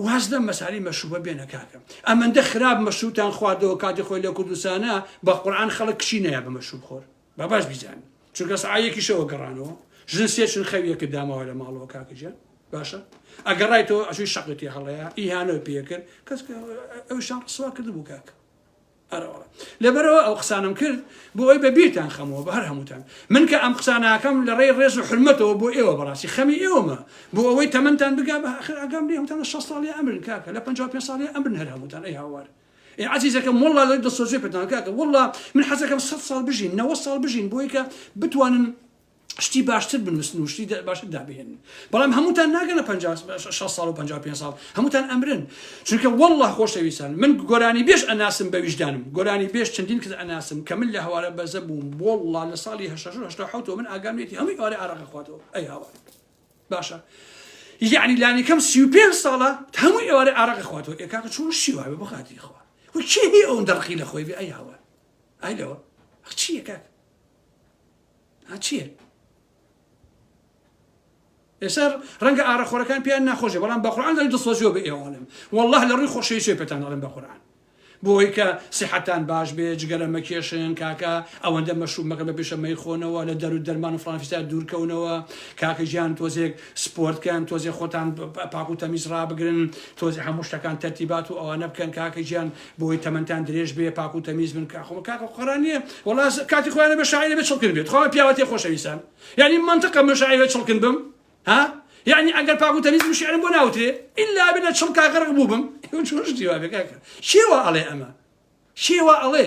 واز لەم مەسالی مەشوبە بێنە کاکە ئەمەندە خراپ مەشوتان خواردەوە کاتی خۆی لە کوردستانە بە قورآان خەڵک کشی نایە بە مەشوب خۆر بە باش بیزان چونکە سعایەکیشەوە گەڕانەوە ژن سێچن خەویەکە داماوە لە ماڵەوە کاکەجە باشە ئەگەڕایتەوە ئەشوی شەقتی هەڵەیە ئیهانەوە پێکرد کەس ئەوشان ڕسوا کرد بوو کاکە ئەرەوە لەبەرەوە ئەو قسانەم کرد بۆ ئەوی بە بیرتان خەمەوە بە هەر هەمووتان من کە ئەم قساناکەم لە ڕێی ڕێز و حرمەتەوە بۆ ئێوە بەڕاستی خەمی ئێوەمە بۆ ئەوەی تەمەندان بگا بە ئاخر ئەگەم لێ هەمتان لە 6 ساڵی ئەمرن کاکە لە 55 ساڵی ئەمرن هەر هەمووتان ئەی هاوار ئێ عزیزەکەم والله لە دڵسۆزی پێتان کاکە والله من حەزەکەم 100 ساڵ بژین 90 ساڵ بژین بۆی کە بتوانن شتی باشتر بنووسن و شتی باشتر دابهێنن بەڵام هەمووتان ناگەنە 6 ساڵ و 55 ساڵ هەمووتان ئەمرن چونکە والله خۆشەویستان من گۆرانی بێش ئەناسم بە ویژدانم گۆرانی بێش چەندین کز ئەناسم کە من لە هەوارە بەزە بووم والله لە ساڵی 1970 من ئاگامێتی هەمووی ئارە ئارەقە خواتەوە ئەی هاوار باشە یعنی لانی کەم 35 ساڵە هەموو ئێوارە ئارەق خواتەوە ئێکاکە چۆن شیوا بە خاتی خوا و کێ ئەو دەڕقی لە خۆی بێ ئەی هاوار ئای لەوە چیەکە ها چیە ئێستا ڕەنگە ئارەخۆرەکان پێیان ناخۆشێ بەڵام بە قورآن دەڵێن دڵسۆزیەوە بە ئێوەڵم والله لە ڕووی خۆشەویی چێ پێتان دەڵێن بە قورآن بۆی کە سیحەتان باش بێ جگەرە مەکێشن کاکە ئەوەندە مەشروب مەکە بە پێشە مەیخۆنەوە لە دەرو دەرمان و فلانفیستا دوورکەونەوە کاکە ژیان تۆزێک سپۆرتکەن تۆزێ خۆتان پاک و تەمیز ڕابگرن تۆزی هەموو شتەکان تەرتیبات و ئەوانە بکەن کاکە ژیان بۆی تەمەنتان درێژ بێ پاک و تەمیز بن کاخۆ بە کاکە قڕان نییە وڵا کاتی خۆیانە بە شاعرە بێ چڵکن بێت خۆ پیاوەتی خۆشەویستان یعنی منطقە من شاعرە چڵکن بم ها یعنی ئەگەر پاک و تەمیز شعرم بۆ ناوترێ ئللا بنە چڵ کاغەرق بووبم چۆش دیوا بێ کاکە شێوە ئەڵێ ئەمە شێوە ئەڵێ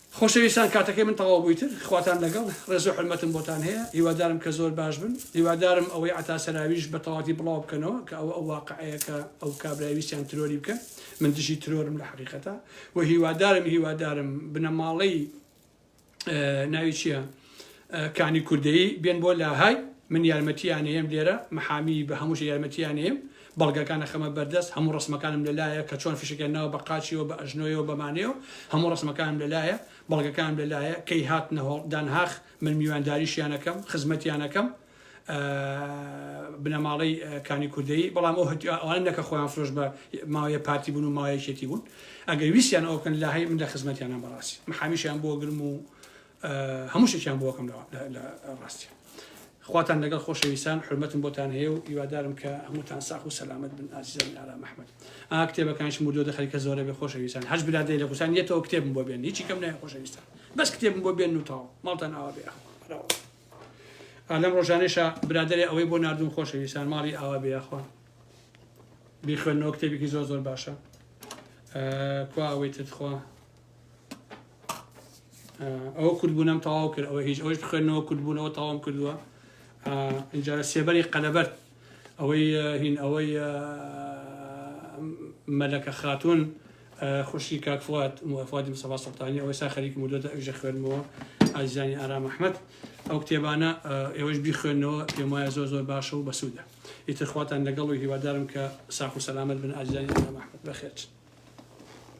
خۆشەویستان کاتەکەی من تەواو بووی تر خواتان لەگەڵ ڕێزو حورمەتم بۆتان هەیە هیوادارم کە زۆر باش بن هیوادارم ئەوەی عەتا سەراویش بە تەواتی بڵاو بکەنەوە کە ئەوە ئەو واقعەیە کە ئەو کابرای ویستیان ترۆری بکەن من دژی ترۆرم لە حەقیقەتا و هیوادارم هیوادارم بنەماڵەی ناوی چیە کانی کوردەیی بێن بۆ لاهای من یارمەتیان ئێم لێرە محامی بە هەمووش یارمەتیان ئێم بەڵگەکان ئەخەمە بەردەست هەموو ڕسمەکانم لەلایە کە چۆن فشەکە ناوە بە قاچیەوە بە ئەژنۆیەوە بەمانەیە و هەموو ڕسمەکانم لەلایە بەڵگەکان لەلایە کەی هات نەهۆڵ دانهاخ من میوانداریشیانەکەم خزمەتیانەکەم بنەماڵەی کانی کوردەی بەڵام ئەو ئەوان نەکە خۆیان فرۆش بە ماوەیە پارتی بوون و ماوەیەکێتی بوون ئەگەر ویسیان ئەوکەن لە هەی من لە خزمەتیانە بەڕاستی محامیشیان بۆ گرم و هەموو شتێکیان بۆ ئەکەم لە ڕاستیان. خواتان لەگەڵ خۆشەویستان حرمەتم بۆتان هەیە و هیوادارم کە هەمووتان ساخ و سەلامەت بن ئازیزانی ئارام ئەحمەد ئا کتێبەکانیشم بردووە دە خەریکە زۆرە بێ خۆشەویستان هەر برادەی لە کوردستان یەتەوە کتێبم بۆ بێن هیچی کەم نایە خۆشەویستان بەس کتێبم بۆ بێن و تاو ماڵتان ئاوا بێ ئەخوا لەم ڕۆژانێشە برادەرێ ئەوەی بۆ ناردوم خۆشەویستان ماڵی ئاوا بێ ئەخوا بیخوێنەوە کتێبێکی زۆر زۆر باشە کوا ئەوەی ترخوا ئەوە کوردبوونم تەواو کرد ئەوە هیچ ئەوش بخوێنەوە کوردبوونەوە تەواوم کردووە اینجا لە سێبەری قەلەبەرت ئەوەی هین ئەوەی مەلەکە خاتون خوشی کاکفات موفادی مسەفا سەڵتانی ئەوەی سا خەریک مدۆدە ئەژە خوێنمەوە ئازیزانی ئارام ئەحمد ئەو کتێبانە ئێوەش بیخوێنەوە پێم وایە زۆر زۆر باشە و بەسوودە ئیترخواتان لەگەڵ و هیوادارم کە ساخ و سەلامت بن ئازیزانی ئارام ئەحمد بەخێرچن